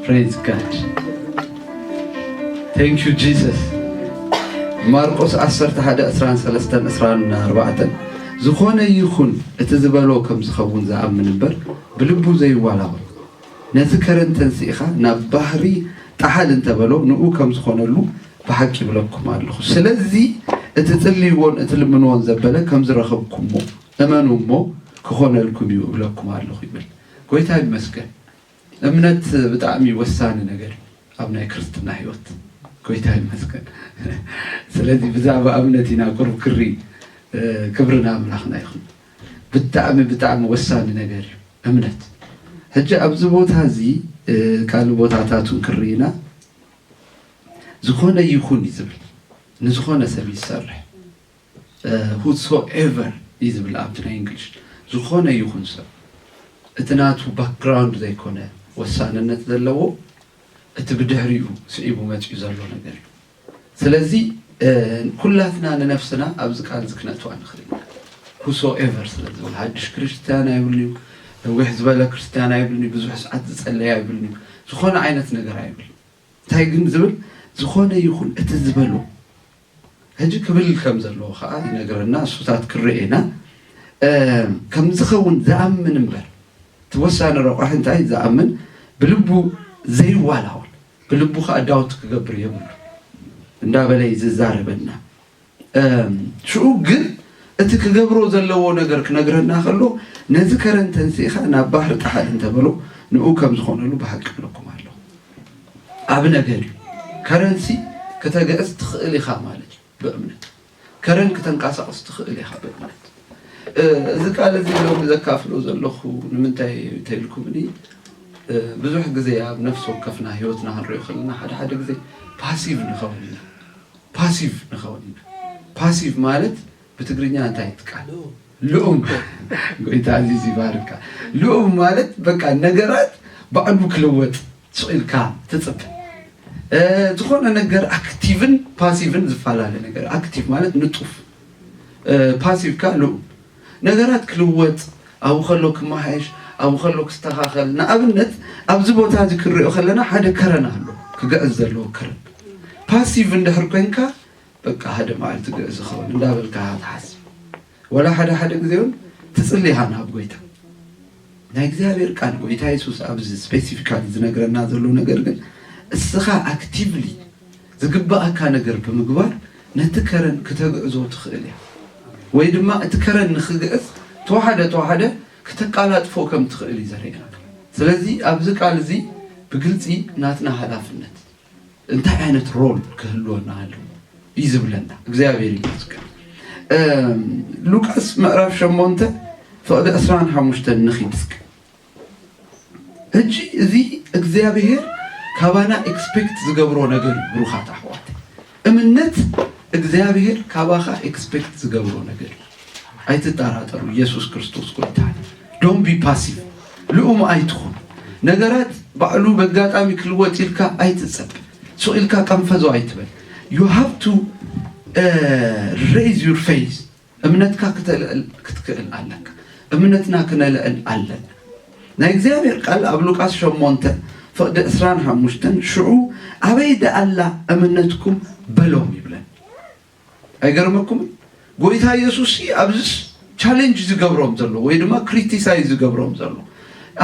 ፕሬዝ ጋድ ቴንክ ዩ ጂሰስ ማርቆስ 11:23-24 ዝኾነ ይኹን እቲ ዝበሎ ከም ዝኸውን ዝኣምን እምበር ብልቡ ዘይዋላወ ነቲ ከረን ተንስኢኻ ናብ ባህሪ ጣሓል እንተበሎ ንኡ ከም ዝኾነሉ ብሓቂ ይብለኩም ኣለኹ፣ ስለዚ እትጽልይዎን እትልምንዎን ዘበለ ከም ዝረኸብኩሞ እመኑ እሞ ክኾነልኩም እዩ እብለኩም ኣለኹ ይብል። ጎይታ ይመስገን። እምነት ብጣዕሚ ወሳኒ ነገር እዩ ኣብ ናይ ክርስትና ህይወት። ጎይታ ይመስገን። ስለዚ ብዛዕባ እምነት ኢና ቁሩብ ክሪ ክብሪ ንኣምላኽና ይኹን። ብጣዕሚ ብጣዕሚ ወሳኒ ነገር እዩ እምነት። ሕጂ ኣብዚ ቦታ እዚ ካልእ ቦታታቱን ክርኢና ዝኾነ ይኹን እዩ ዝብል ንዝኾነ ሰብ እዩ ዝሰርሕ whosoever እዩ ዝብል ኣብቲ ናይ እንግሊሽ ዝኾነ ይኹን ሰብ እቲ ናቱ ባክግራውንድ ዘይኮነ ወሳንነት ዘለዎ እቲ ብድሕሪኡ ስዒቡ መፂኡ ዘሎ ነገር እዩ ስለዚ ኩላትና ንነፍስና ኣብዚ ቃል እዚ ክነትዋ ንኽእል ኢና whosoever ስለ ዝብል ሓድሽ ክርስትያን ኣይብልን እዩ ነዊሕ ዝበለ ክርስትያን ኣይብልን እዩ ብዙሕ ሰዓት ዝፀለየ ኣይብልን እዩ ዝኾነ ዓይነት ነገር ኣይብል እንታይ ግን ዝብል ዝኾነ ይኹን እቲ ዝበሎ ሕጂ ክብል ከም ዘለዎ ከኣ ይነግረና እሱታት ክረኤና ከም ዝኸውን ዝኣምን እምበር እቲ ወሳኒ ረቋሒ እንታይ ዝኣምን ብልቡ ዘይዋላወል ብልቡ ከኣ ዳውት ክገብር የብሉ እንዳበለ እዩ ዝዛረበና። ሽኡ ግን እቲ ክገብሮ ዘለዎ ነገር ክነግረና ከሎ ነዚ ከረን ተንሲእኻ ናብ ባህር ጣሓል እንተበሎ ንኡ ከም ዝኾነሉ ብሃቂ ኣለኩም ኣሎ ኣብ ነገር እዩ ከረንሲ ክተገእዝ ትኽእል ኢኻ ማለት እዩ ብእምነት ከረን ክተንቀሳቕስ ትኽእል ኢኻ ብእምነት እዚ ቃል እዚ ሎሚ ዘካፍሎ ዘለኹ ንምንታይ ተልኩም እኒ ብዙሕ ግዜ ኣብ ነፍሲ ወከፍና ሂወትና ክንሪኦ ከለና ሓደ ሓደ ግዜ ፓሲቭ ንኸውን ኢና ፓሲቭ ንኸውን ኢና ፓሲቭ ማለት ብትግርኛ እንታይ እቲ ቃል ልኡም ጎይታ ኣዚዝ ይባርካ ልኡም ማለት በቃ ነገራት ባዕሉ ክልወጥ ስቂልካ ትፅበ ዝኾነ ነገር ኣክቲቭን ፓሲቭን ዝፈላለ ነገር ኣክቲቭ ማለት ንጡፍ ፓሲቭ ካ ልኡም ነገራት ክልወጥ፣ ኣብኡ ከሎ ክመሓየሽ፣ ኣብኡ ከሎ ክስተኻኸል፣ ንኣብነት ኣብዚ ቦታ እዚ ክንሪኦ ከለና ሓደ ከረን ኣሎ፣ ክግዕዝ ዘለዎ ከረን። ፓሲቭ እንድሕር ኮይንካ በቃ ሓደ መዓልቲ ግዕዝ ይኸውን እንዳበልካ ኢኻ ትሓስብ። ወላ ሓደ ሓደ ግዜ እውን ትጽሊ ኢኻ ናብ ጎይታ። ናይ እግዚኣብሔር ቃል ጎይታ የሱስ ኣብዚ ስፔሲፊካሊ ዝነግረና ዘሎ ነገር ግን እስኻ ኣክቲቭሊ ዝግብኣካ ነገር ብምግባር ነቲ ከረን ክተግዕዞ ትኽእል እያ። ወይ ድማ እቲ ከረን ንኽግዕዝ ተዋሕደ ተዋሕደ ክተቃላጥፎ ከም ትኽእል እዩ ዘርእየና። ስለዚ ኣብዚ ቃል እዚ ብግልጺ ናትና ሃላፍነት እንታይ ዓይነት ሮል ክህልወና ኣለዎ እዩ ዝብለና። እግዚኣብሔር ይመስገን። ሉቃስ ምዕራፍ ሸሞንተ ፍቕዲ ዕስራን ሓሙሽተን ንኺድ እስከ ሕጂ እዚ እግዚኣብሔር ካባና ኤክስፔክት ዝገብሮ ነገር እዩ። ብሩኻት ኣሕዋት እምነት እግዚኣብሔር ካባኻ ኤክስፔክት ዝገብሮ ነገር እዩ። ኣይትጠራጠሩ። ኢየሱስ ክርስቶስ ጎይታ ዶን ቢ ፓሲቭ ልኡም ኣይትኹን። ነገራት ባዕሉ በጋጣሚ ክልወጥ ኢልካ ኣይትጸብ ሱቕ ኢልካ ቀንፈዞ ኣይትበል ዩ ሃቭ ቱ ሬይዝ ዩር ፌዝ እምነትካ ክተልዕል ክትክእል ኣለካ እምነትና ክነልዕል ኣለና ናይ እግዚኣብሔር ቃል ኣብ ሉቃስ ሸሞንተ ፍቕዲ ዕስራን ሓሙሽተን ሽዑ ኣበይ ደኣላ እምነትኩም በሎም ይብለን ኣይገርመኩምን ጎይታ ኢየሱስ ኣብዝስ ቻሌንጅ ዝገብሮም ዘሎ ወይ ድማ ክሪቲሳይዝ ዝገብሮም ዘሎ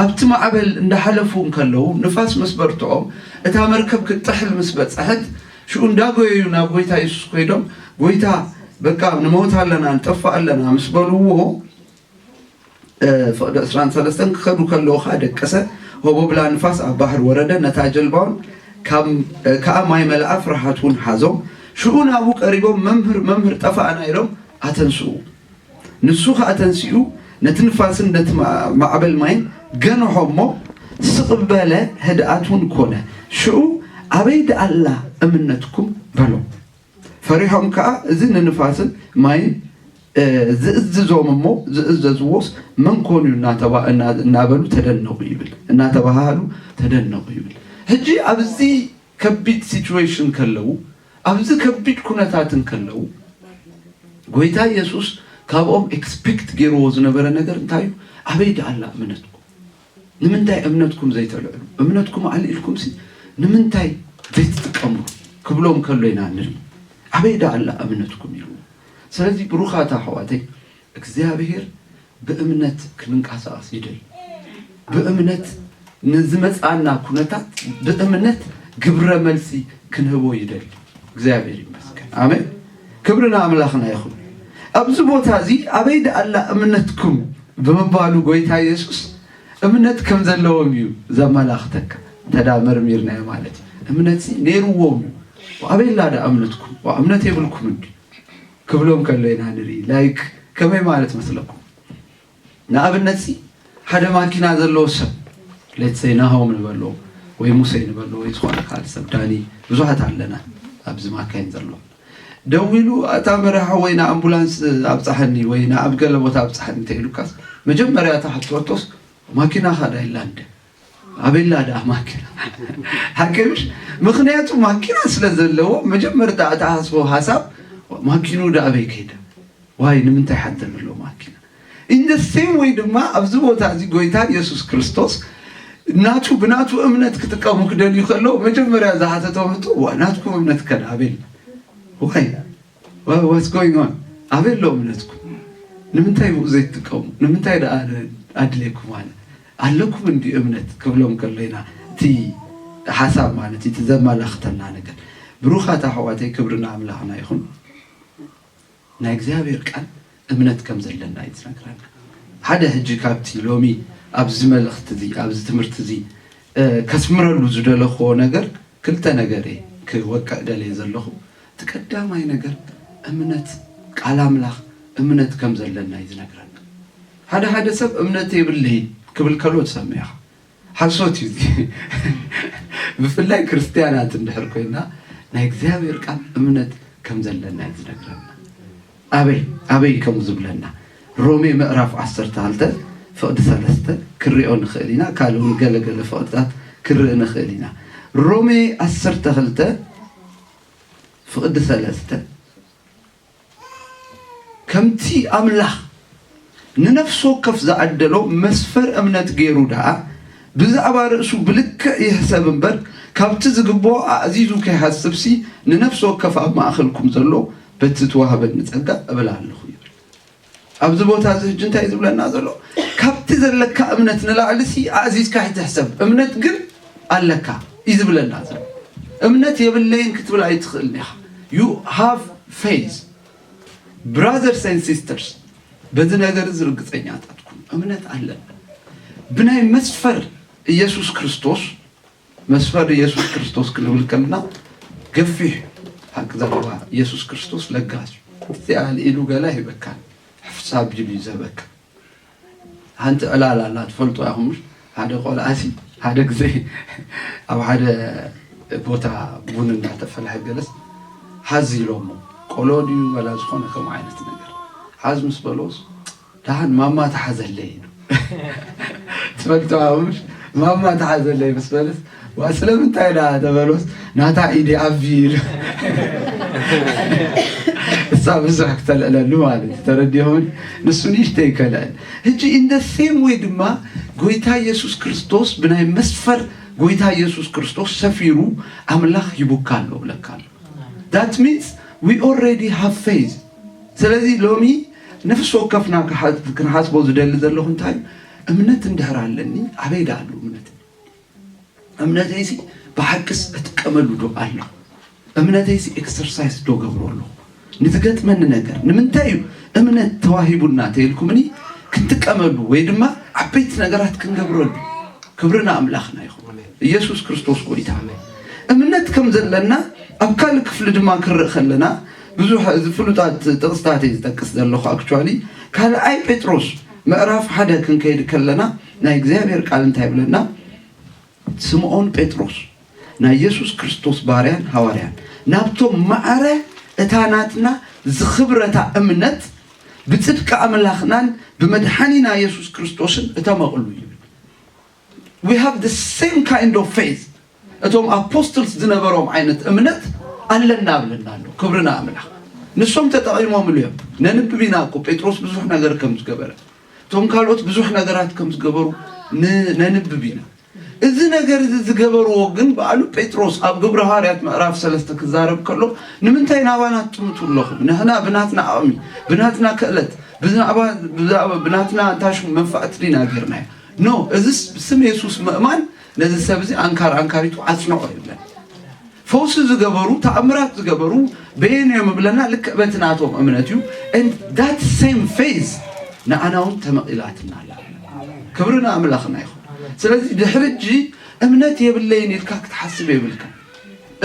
ኣብቲ ማዕበል እንዳሓለፉ እንከለዉ ንፋስ ምስ በርትዖም እታ መርከብ ክትጥሕል ምስ በፅሐት ሽኡ እንዳ ጎየዩ ናብ ጎይታ የሱስ ኮይዶም ጎይታ በቃ ንመውት ኣለና ንጠፍእ ኣለና ምስ በልዎ ፍቅዲ ዕስራን ሰለስተን ክኸዱ ከለዉ ከኣ ደቀሰ ሆቦብላ ንፋስ ኣብ ባሕሪ ወረደ ነታ ጀልባውን ከኣ ማይ መለኣ ፍርሃት ውን ሓዞም ሽኡ ናብኡ ቀሪቦም መምህር መምህር ጠፋእና ኢሎም ኣተንስኡ ንሱ ኸኣ ተንሲኡ ነቲ ንፋስን ነቲ ማዕበል ማይን ገንሖ እሞ፣ ስቕ በለ፣ ህድኣትውን ኮነ። ሽዑ ኣበይ ደኣ ኣላ እምነትኩም? በሎም። ፈሪሖም ከኣ እዚ ንንፋስን ማይን ዚእዝዞም እሞ ዝእዘዝዎስ መን ኮን እዩ? እናበሉ ተደነቑ ይብል። እናተበሃሃሉ ተደነቑ ይብል። ሕጂ ኣብዚ ከቢድ ሲቹዌሽን ከለዉ ኣብዚ ከቢድ ኩነታት እንከለዉ ጎይታ የሱስ ካብኦም ኤክስፒክት ጌርዎ ዝነበረ ነገር እንታይ እዩ ኣበይ ደኣ ኣላ እምነትኩም ንምንታይ እምነትኩም ዘይተልዕሉ እምነትኩም ኣልኢልኩምሲ ንምንታይ ዘይትጥቀምሉ ክብሎም ከሎ ኢና ንርኢ ኣበይ ደኣ ኣላ እምነትኩም ኢልዎ ስለዚ ብሩኻት ኣሕዋተይ እግዚኣብሄር ብእምነት ክንንቀሳቐስ ይደል ብእምነት ንዝመፅኣና ኩነታት ብእምነት ግብረ መልሲ ክንህቦ ይደል እግዚኣብሄር ይመስገን ኣሜን ክብሪ ንኣምላኽና ይኹን ኣብዚ ቦታ እዚ ኣበይ ደኣላ እምነትኩም ብምባሉ ጎይታ የሱስ እምነት ከም ዘለዎም እዩ ዘመላኽተካ እንተዳ መርሚርናዮ ማለት እዩ እምነት ነይርዎም እዩ ኣበይላ ዳ እምነትኩም እምነት የብልኩም እንዲ ክብሎም ከሎ ኢና ንርኢ ላይክ ከመይ ማለት መስለኩም ንኣብነት ሲ ሓደ ማኪና ዘለዎ ሰብ ሌትሰይ ናሆም ንበሎ ወይ ሙሴ ንበሎ ወይ ዝኾነ ካልእ ሰብ ዳኒ ብዙሓት ኣለና ኣብዚ ማካይን ዘሎ ደው ኢሉ እታ መራሒ ወይ ንኣምቡላንስ ኣብፅሐኒ ወይ ንኣብ ገለ ቦታ ኣብፅሐኒ እንተኢሉካስ መጀመርያ እታ ሕቶቶስ ማኪናኻ ዳይላንደ ኣቤላ ደኣ ማኪና ሓቀምሽ ምክንያቱ ማኪና ስለ ዘለዎ መጀመርታ እቲ ሃስቦ ሃሳብ ማኪኑ ደኣ ኣበይ ከይደ ዋይ ንምንታይ ሓተን ኣሎ ማኪና ኢንደ ሴም ወይ ድማ ኣብዚ ቦታ እዚ ጎይታ ኢየሱስ ክርስቶስ ናቱ ብናቱ እምነት ክጥቀሙ ክደልዩ ከለዉ መጀመርያ ዝሓተቶም ሕቶ ዋ ናትኩም እምነት ከ ኣቤላ ዋይ ዋትስ ጎይንግ ኦን ኣበይ ኣሎ እምነትኩም ንምንታይ ብኡ ዘይትጥቀሙ ንምንታይ ደኣ ኣድልየኩም ማለት ኣለኩም እንዲ እምነት ክብሎም ከሎ ኢና እቲ ሓሳብ ማለት እቲ ዘመላኽተና ነገር ብሩኻት ኣሕዋተይ ክብርና ኣምላኽና ይኹን ናይ እግዚኣብሔር ቃል እምነት ከም ዘለና እዩ ዝነግረና። ሓደ ሕጂ ካብቲ ሎሚ ኣብዚ መልእኽቲ እዚ ኣብዚ ትምህርቲ እዚ ከስምረሉ ዝደለኽዎ ነገር ክልተ ነገር እየ ክወቅዕ ደልየ ዘለኹ። እቲ ቀዳማይ ነገር እምነት ቃል ኣምላኽ እምነት ከም ዘለና እዩ ዝነግረና። ሓደ ሓደ ሰብ እምነት የብልይን ክብል ከሎ ትሰምዕ ኢኻ። ሓሶት እዩ እዚ ብፍላይ ክርስትያናት እንድሕር ኮይና ናይ እግዚኣብሔር ቃል እምነት ከም ዘለና እዩ ዝነግረና ኣበይ ኣበይ ከምኡ ዝብለና ሮሜ ምዕራፍ 12 ፍቕዲ ሰለስተ ክንሪኦ ንኽእል ኢና ካልእ እውን ገለገለ ፍቕድታት ክንርኢ ንኽእል ኢና ሮሜ 12 ፍቕዲ ሰለስተ ከምቲ ኣምላኽ ንነፍሲ ወከፍ ዝዓደሎ መስፈር እምነት ገይሩ ደኣ፣ ብዛዕባ ርእሱ ብልክዕ ይሕሰብ እምበር፣ ካብቲ ዝግብኦ ኣዕዚዙ ከይሓስብሲ፣ ንነፍሲ ወከፍ ኣብ ማእከልኩም ዘሎ በቲ እተዋህበኒ ጸጋ እብል ኣለኹ ይብል። ኣብዚ ቦታ እዚ ሕጂ እንታይ እዩ ዝብለና ዘሎ? ካብቲ ዘለካ እምነት ንላዕሊሲ ኣእዚዝካ ኣይትሕሰብ፣ እምነት ግን ኣለካ እዩ ዝብለና ዘሎ። እምነት የብለይን ክትብል ኣይትኽእልን ኢኻ። ዩ ሃቭ ፌዝ ብራዘርስ ኤንድ ሲስተርስ፣ በዚ ነገር እዚ ርግፀኛታት ኩኑ። እምነት ኣለና ብናይ መስፈር ኢየሱስ ክርስቶስ መስፈሪ የሱስ ክርስቶስ ክንብል ከለና ገፊሕ ሓቂ ዘረባ የሱስ ክርስቶስ ለጋስ እዩ። እቲ ኣልዒሉ ገለ ኣይህበካን ሕፍሳ ኣቢሉ እዩ ዝህበካ። ሓንቲ ዕላል ኣላ ትፈልጡዋ ኢኹም ምሽ ሓደ ቆልዓሲ ሓደ ግዜ ኣብ ሓደ ቦታ ቡን እንዳተፈልሐ ገለስ ሓዝ ኢሎሞ ቆሎ ድዩ ዋላ ዝኾነ ከምኡ ዓይነት ነገር ሓዝ ምስ በሎስ ዳሓን ማማ ትሓዘለይ ኢሉ ትፈልጥዋ ዉሽ ማማ ትሓዘለይ ምስ በልስ ዋ ስለምንታይ ዳኣ ተበሎስ ናታ ኢዲ ኣቢ ኢሉ እሳ ብዙሕ ክተልዕለሉ ማለት እዩ ተረዲኹም ንሱ ንእሽተይ ከልዕል ህጂ ኢን ሴም ወይ ድማ ጎይታ ኢየሱስ ክርስቶስ ብናይ መስፈር ጎይታ ኢየሱስ ክርስቶስ ሰፊሩ ኣምላኽ ሂቡካ ኣሎ ብለካ ኣሎ ዳት ሚንስ ዊ ኦልሬዲ ሃቭ ፌዝ ስለዚ ሎሚ ነፍሲ ወከፍና ክንሓስቦ ዝደሊ ዘለኹ እንታይ እዩ? እምነት እንድሕር ኣለኒ ኣበይ ደኣ ኣሎ እምነት? እምነተይሲ ብሓቅስ እጥቀመሉ ዶ ኣለኹ? እምነተይሲ ኤክሰርሳይዝ ዶ ገብሮ ኣለኹ? ንትገጥመኒ ነገር ንምንታይ እዩ እምነት ተዋሂቡና ተይልኩምኒ ክንጥቀመሉ ወይ ድማ ዓበይቲ ነገራት ክንገብረሉ ክብሪ ንኣምላኽና ይኹን ኢየሱስ ክርስቶስ ጎይታ እምነት ከም ዘለና ኣብ ካልእ ክፍሊ ድማ ክንርኢ ከለና ብዙሕ እዚ ፍሉጣት ጥቅስታት እየ ዝጠቅስ ዘለኹ ኣክቹዋሊ ካልኣይ ጴጥሮስ ምዕራፍ ሓደ ክንከይድ ከለና ናይ እግዚኣብሔር ቃል እንታይ ይብለና ስምዖን ጴጥሮስ ናይ የሱስ ክርስቶስ ባርያን ሃዋርያን ናብቶም ማዕረ እታ ናትና ዝኽብረታ እምነት ብጽድቂ ኣምላኽናን ብመድሓኒና የሱስ ክርስቶስን እተመቕሉ ይብል we have the same kind of faith እቶም ኣፖስትልስ ዝነበሮም ዓይነት እምነት ኣለና ኣብለና ኣሎ ክብሪ ንኣምላኽ ንሶም ተጠቒሞምሉ እዮም ነንብብ ኢና እኮ ጴጥሮስ ብዙሕ ነገር ከም ዝገበረ እቶም ካልኦት ብዙሕ ነገራት ከም ዝገበሩ ን- ነንብብ ኢና እዚ ነገር እዚ ዝገበርዎ ግን በዓሉ ጴጥሮስ ኣብ ግብረ ሃዋርያት ምዕራፍ ሰለስተ ክዛረብ ከሎ ንምንታይ ናባና ትጥምቱ ኣለኹም ንሕና ብናትና ዓቕሚ ብናትና ክእለት ብዛዕባ ብዛዕባ- ብናትና እንታይ ሽሙ መንፋዕቲ ዲና ጌርናዮ ኖ እዚስ ብስም የሱስ ምእማን ነዚ ሰብ እዚ ኣንካር ኣንካሪቱ ኣጽንዖ ይብለን ፈውሲ ዝገበሩ ተኣምራት ዝገበሩ በየን እዮም እብለና ልክዕ በቲ ናቶም እምነት እዩ ዳት ሴም ፌዝ ንኣና እውን ተመቒላትና ኣላ ክብሪ ንኣምላኽና ይኹን ስለዚ ድሕሪ እጂ እምነት የብለይን ኢልካ ክትሓስብ የብልካ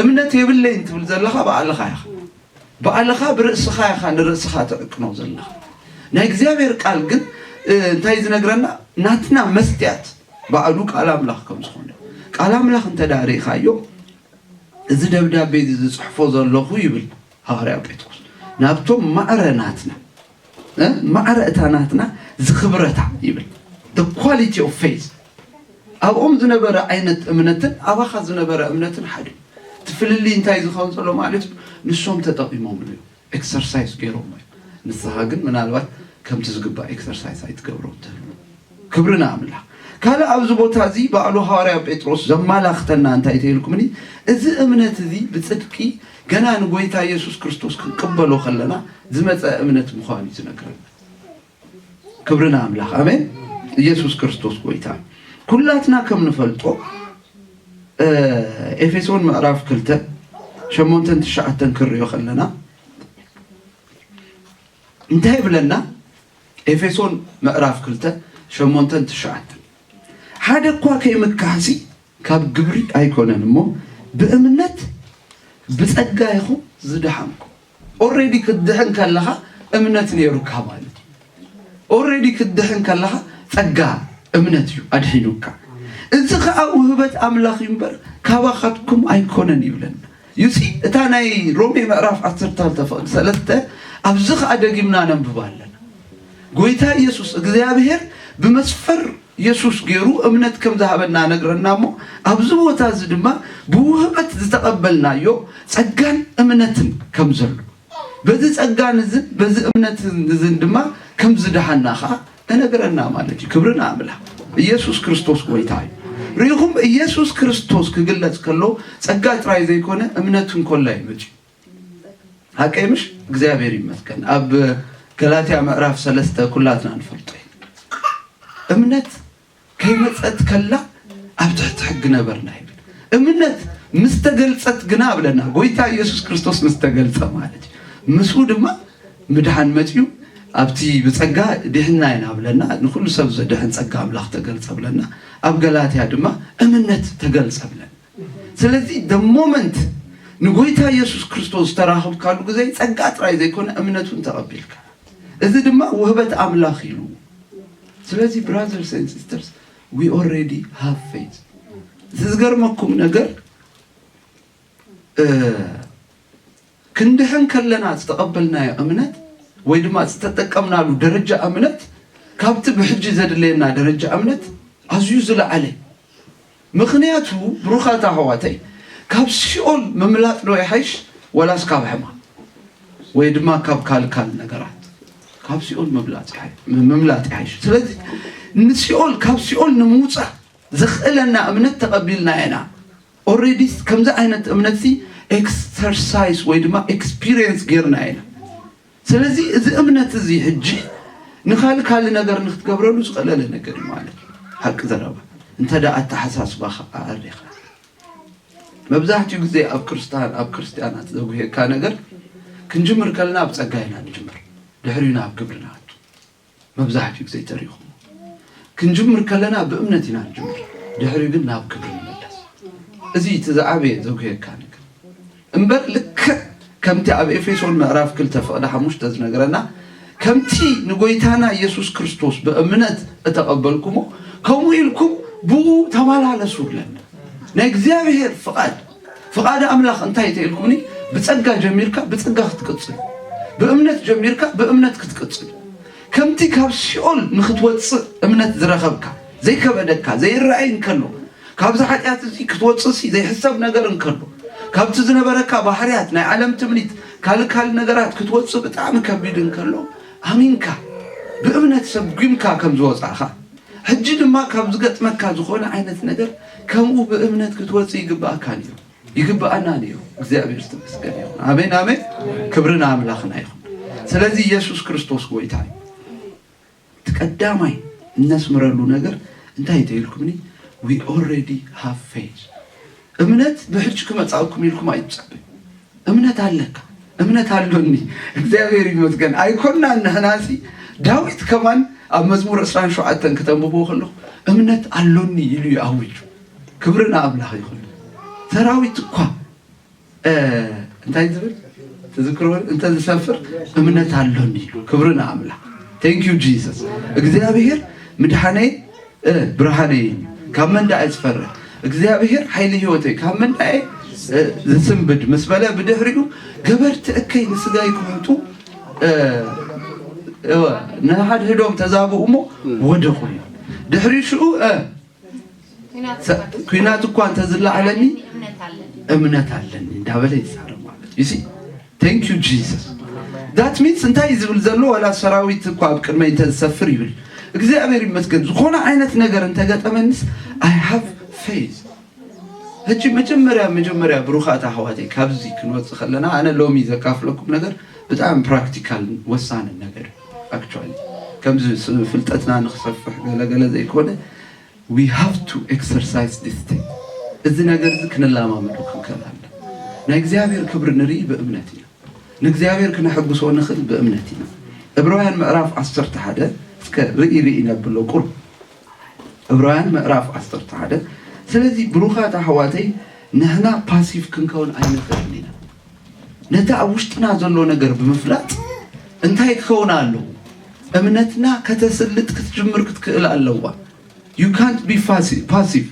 እምነት የብለይን ትብል ዘለኻ ባዕልኻ ኢኻ ባዕልኻ ብርእስኻ ኢኻ ንርእስኻ ትዕቅኖ ዘለኻ ናይ እግዚኣብሔር ቃል ግን እንታይ ዝነግረና ናትና መስትያት ባዕሉ ቃል ኣምላኽ ከም ዝኾነ። ቃል ኣምላኽ እንተ ደኣ ርኢኻዮ፣ እዚ ደብዳቤ እዚ ዝጽሕፎ ዘሎኹ ይብል ሃዋርያ ጴጥሮስ፣ ናብቶም ማዕረ ናትና፣ ማዕረ እታ ናትና ዝኽብረታ ይብል፣ the quality of faith፣ ኣብኦም ዝነበረ ዓይነት እምነትን ኣባኻ ዝነበረ እምነትን ሓደ እዩ። እቲ ፍልልይ እንታይ እዩ ዝኸውን ዘሎ ማለት እዩ፣ ንሶም ተጠቒሞምሉ እዮም። ኤክሰርሳይዝ ገይሮሞ እዮም ንስኻ ግን ምናልባት ከምቲ ዝግባእ ኤክሰርሳይዝ ኣይትገብሮን ትህሉ ክብሪ ንኣምላኽ ካልእ ኣብዚ ቦታ እዚ ባዕሉ ሃዋርያ ጴጥሮስ ዘማላኽተና እንታይ ተይልኩምኒ እዚ እምነት እዚ ብጽድቂ ገና ንጎይታ ኢየሱስ ክርስቶስ ክንቅበሎ ከለና ዝመጸ እምነት ምዃኑ እዩ ዝነግረና ክብሪ ንኣምላኽ ኣሜን። ኢየሱስ ክርስቶስ ጎይታ ኩላትና ከም ንፈልጦ ኤፌሶን ምዕራፍ ክልተ ሸሞንተን ትሽዓተን ክንሪኦ ከለና እንታይ ይብለና? ኤፌሶን ምዕራፍ ክልተ ሸሞንተን ትሽዓተን ሓደ እኳ ከይምካሕሲ ካብ ግብሪ ኣይኮነን እሞ ብእምነት ብጸጋ ይኹ ዝደሓንኩ ኦሬዲ ክትድሕን ከለኻ እምነት ነይሩካ ማለት እዩ። ኦሬዲ ክትድሕን ከለኻ ጸጋ እምነት እዩ ኣድሒኑካ። እዚ ከኣ ውህበት ኣምላኽ እዩ እምበር ካባኻትኩም ኣይኮነን ይብለና። ዩሲ እታ ናይ ሮሜ ምዕራፍ ዓሰርተ ክልተ ፍቕዲ ሰለስተ ኣብዚ ከኣ ደጊምና ነንብባ ኣለና። ጎይታ እየሱስ እግዚኣብሔር ብመስፈር የሱስ ገይሩ እምነት ከም ዝሃበና ነግረና እሞ ኣብዚ ቦታ እዚ ድማ ብውህበት ዝተቐበልናዮ ጸጋን እምነትን ከም ዘሎ በዚ ጸጋን እዝን በዚ እምነትን እዝን ድማ ከም ዝደሃና ከዓ እነግረና ማለት እዩ ክብሪ ንኣምላኽ ኢየሱስ ክርስቶስ ጎይታ እዩ ርኢኹም ኢየሱስ ክርስቶስ ክግለጽ ከሎ ጸጋ ጥራይ ዘይኮነ እምነት እንኮላ ይመጽ እዩ ሓቀይ ምሽ እግዚኣብሔር ይመስገን ኣብ ገላትያ ምዕራፍ ሰለስተ ኩላትና ንፈልጦ እምነት ከይመፀት ከላ ኣብ ትሕቲ ሕጊ ነበርና ይብል እምነት ምስ ተገልፀት ግና ብለና ጎይታ ኢየሱስ ክርስቶስ ምስ ተገልፀ ማለት እዩ ምስኡ ድማ ምድሓን መፅኡ ኣብቲ ብፀጋ ድሕና ኢና ብለና ንኩሉ ሰብ ዘድሕን ፀጋ ኣምላኽ ተገልፀ ብለና ኣብ ገላትያ ድማ እምነት ተገልፀ ብለና ስለዚ the moment ንጎይታ የሱስ ክርስቶስ ዝተራኸብካሉ ግዜ ጸጋ ጥራይ ዘይኮነ እምነት ውን ተቐቢልካ እዚ ድማ ውህበት ኣምላኽ ኢዩ ስለዚ ብራዘርስ ኤንድ ሲስተርስ we already have faith እቲ ዝገርመኩም ነገር ክንድሕን ከለና ዝተቐበልናዮ እምነት ወይ ድማ ዝተጠቀምናሉ ደረጃ እምነት ካብቲ ብሕጂ ዘድለየና ደረጃ እምነት ኣዝዩ ዝለዓለ እዩ። ምኽንያቱ ብሩኻት ኣሕዋተይ ካብ ሲኦል ምምላጥዶ ይሓይሽ ዋላስ ካብ ሕማም ወይ ድማ ካብ ካል ካል ነገራት ካብ ሲኦል ምምላጥ ይሓይሽ። ስለዚ ንሲኦል ካብ ሲኦል ንምውፃእ ዘኽእለና እምነት ተቐቢልና ኢና። ኦሬዲስ ከምዚ ዓይነት እምነትሲ ኤክሰርሳይስ ወይ ድማ ኤክስፒሪየንስ ጌርናዮ ኢና። ስለዚ እዚ እምነት እዚ ሕጂ ንካል ካልእ ነገር ንክትገብረሉ ዝቐለለ ነገር እዩ ማለት እዩ። ሓቂ ዘረባ እንተ ደኣ ኣተሓሳስባኻ ኣዕሪኻ መብዛሕትኡ ግዜ ኣብ ክርስታን ኣብ ክርስትያናት ዘጉህየካ ነገር ክንጅምር ከለና ኣብ ጸጋ ኢና ንጅምር ድሕሪኡ ናብ ግብሪ ንኣቱ። መብዛሕቲኡ ግዜ ተሪኹሞ ክንጅምር ከለና ብእምነት ኢና ንጅምር ድሕሪኡ ግን ናብ ክብሪ ንመለስ እዚ እቲ ዝዓበየ ዘጉህየካ ነገር እምበር ልክዕ ከምቲ ኣብ ኤፌሶን ምዕራፍ ክልተ ፍቕዲ ሓሙሽተ ዝነገረና ከምቲ ንጎይታና ኢየሱስ ክርስቶስ ብእምነት እተቐበልኩሞ ከምኡ ኢልኩም ብኡ ተመላለሱ ብለና ናይ እግዚኣብሔር ፍቓድ ፍቓድ ኣምላኽ እንታይ ተኢልኩምኒ ብጸጋ ጀሚርካ ብጸጋ ክትቅጽል ብእምነት ጀሚርካ ብእምነት ክትቅጽል ከምቲ ካብ ሲኦል ንክትወጽእ እምነት ዝረኸብካ ዘይከበደካ ዘይረኣይ እንከሎ ካብዚ ሓጢኣት እዚ ክትወፅሲ ዘይሕሰብ ነገር እንከሎ ካብቲ ዝነበረካ ባህርያት ናይ ዓለም ትምኒት ካልእ ካልእ ነገራት ክትወፅእ ብጣዕሚ ከቢድ እንከሎ ኣሚንካ ብእምነት ሰጒምካ ከም ዝወፃእኻ ሕጂ ድማ ካብ ዝገጥመካ ዝኾነ ዓይነት ነገር ከምኡ ብእምነት ክትወጽእ ይግብኣካ ነይሩ ይግብኣና ነይሩ። እግዚኣብሔር ዝተመስገነ ይኹን። ኣሜን ኣሜን። ክብሪ ንኣምላኽና ይኹን። ስለዚ ኢየሱስ ክርስቶስ ጎይታ እዩ። እቲ ቀዳማይ እነስምረሉ ነገር እንታይ እዩ ተይልኩምኒ? ዊ ኦልሬዲ ሃቭ ፌዝ እምነት ብሕጂ ክመጻእኩም ኢልኩም ኣይትጸበዩ እምነት ኣለካ እምነት ኣሎኒ እግዚኣብሔር ይመስገን ኣይኮናን ንሕናሲ ዳዊት ከማን ኣብ መዝሙር ዕስራን ሸውዓተን ክተንብብዎ ከለኹ እምነት ኣሎኒ ኢሉ እዩ ኣዊጁ ክብሪ ንኣምላኽ ይኹን ሰራዊት እኳ እንታይ ዝብል ትዝክሮ እንተ ዝሰፍር እምነት ኣሎኒ ኢሉ ክብሪ ንኣምላኽ ቴንክ ዩ ጂሰስ እግዚኣብሔር ምድሓነይ ብርሃነይን ካብ መንዳኤ ዝፈርህ እግዚኣብሔር ሓይሊ ህይወተይ ካብ መንዳኤ ዝስንብድ ምስ በለ ብድሕሪኡ ገበርቲ እከይ ንስጋይ ክውጡ ንሓድሕዶም ተዛብኡ እሞ ወደኹ ድሕሪ ሽኡ ኩናት እኳ እንተዝላዕለኒ እምነት ኣለኒ እንዳበለ ይዛረብ ማለት እዩ Thank you Jesus that means እንታይ እዩ ዝብል ዘሎ ዋላ ሰራዊት እኳ ኣብ ቅድመይ እንተዝሰፍር ይብል እግዚኣብሔር ይመስገን ዝኾነ ዓይነት ነገር እንተገጠመንስ I have faith ሕጂ መጀመርያ መጀመርያ ብሩኻት ኣሕዋተይ ካብዚ ክንወፅእ ከለና ኣነ ሎሚ ዘካፍለኩም ነገር ብጣዕሚ ፕራክቲካል ወሳኒ ነገር ኣክቹዋሊ ከምዚ ፍልጠትና ንክሰፍሕ ገለገለ ዘይኮነ We have to exercise this thing እዚ ነገር እዚ ክንለማመዶ ክንክእል ኣለና። ናይ እግዚኣብሔር ክብሪ ንርኢ ብእምነት ኢና። ንእግዚኣብሔር ክነሐጉሶ ንኽእል ብእምነት ኢና። ዕብራውያን ምዕራፍ ዓሰርተ ሓደ እስከ ርኢ ርኢ ነብሎ ቁርብ ዕብራውያን ምዕራፍ ዓሰርተ ሓደ ስለዚ ብሩኻት ኣሕዋተይ ንሕና ፓሲቭ ክንከውን ኣይንኽእልን ኢና። ነቲ ኣብ ውሽጥና ዘሎ ነገር ብምፍላጥ እንታይ ክኸውን ኣለዎ? እምነትና ከተስልጥ ክትጅምር ክትክእል ኣለዋ። ዩ ካንት ቢ ፓሲቭ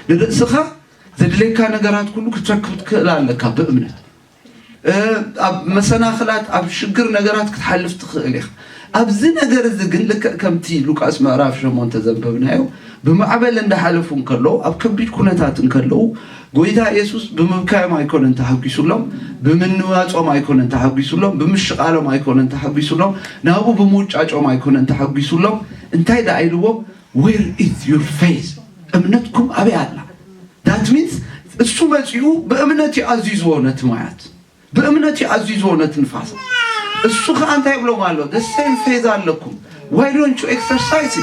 ንርእስኻ ዘድልየካ ነገራት ኩሉ ክትረክብ ትክእል ኣለካ ብእምነት ኣብ መሰናኽላት ኣብ ሽግር ነገራት ክትሓልፍ ትኽእል ኢኻ። ኣብዚ ነገር እዚ ግን ልክዕ ከምቲ ሉቃስ ምዕራፍ ሸሞንተ ዘንበብናዮ ብማዕበል እንዳሓለፉ እንከለዉ ኣብ ከቢድ ኩነታት እንከለዉ ጎይታ የሱስ ብምብካዮም ኣይኮነን ተሓጒሱሎም ብምንዋጾም ኣይኮነን ተሓጒሱሎም ብምሽቓሎም ኣይኮነን ተሓጒሱሎም ናብኡ ብምውጫጮም ኣይኮነን ተሓጒሱሎም እንታይ ደኣ ኢልዎም ዌር ኢዝ ዩር ፌዝ እምነትኩም ኣበይ ኣላ ዳት ሚንስ እሱ መጺኡ ብእምነት እዩ ኣዚዝዎ ነቲ ማያት ብእምነት እዩ ኣዚዝዎ ነቲ ንፋስ እሱ ከዓ እንታይ ብሎም ኣሎ ደሴም ፌዝ ኣለኩም ዋይ ዶንት ዩ ኤክሰርሳይዝ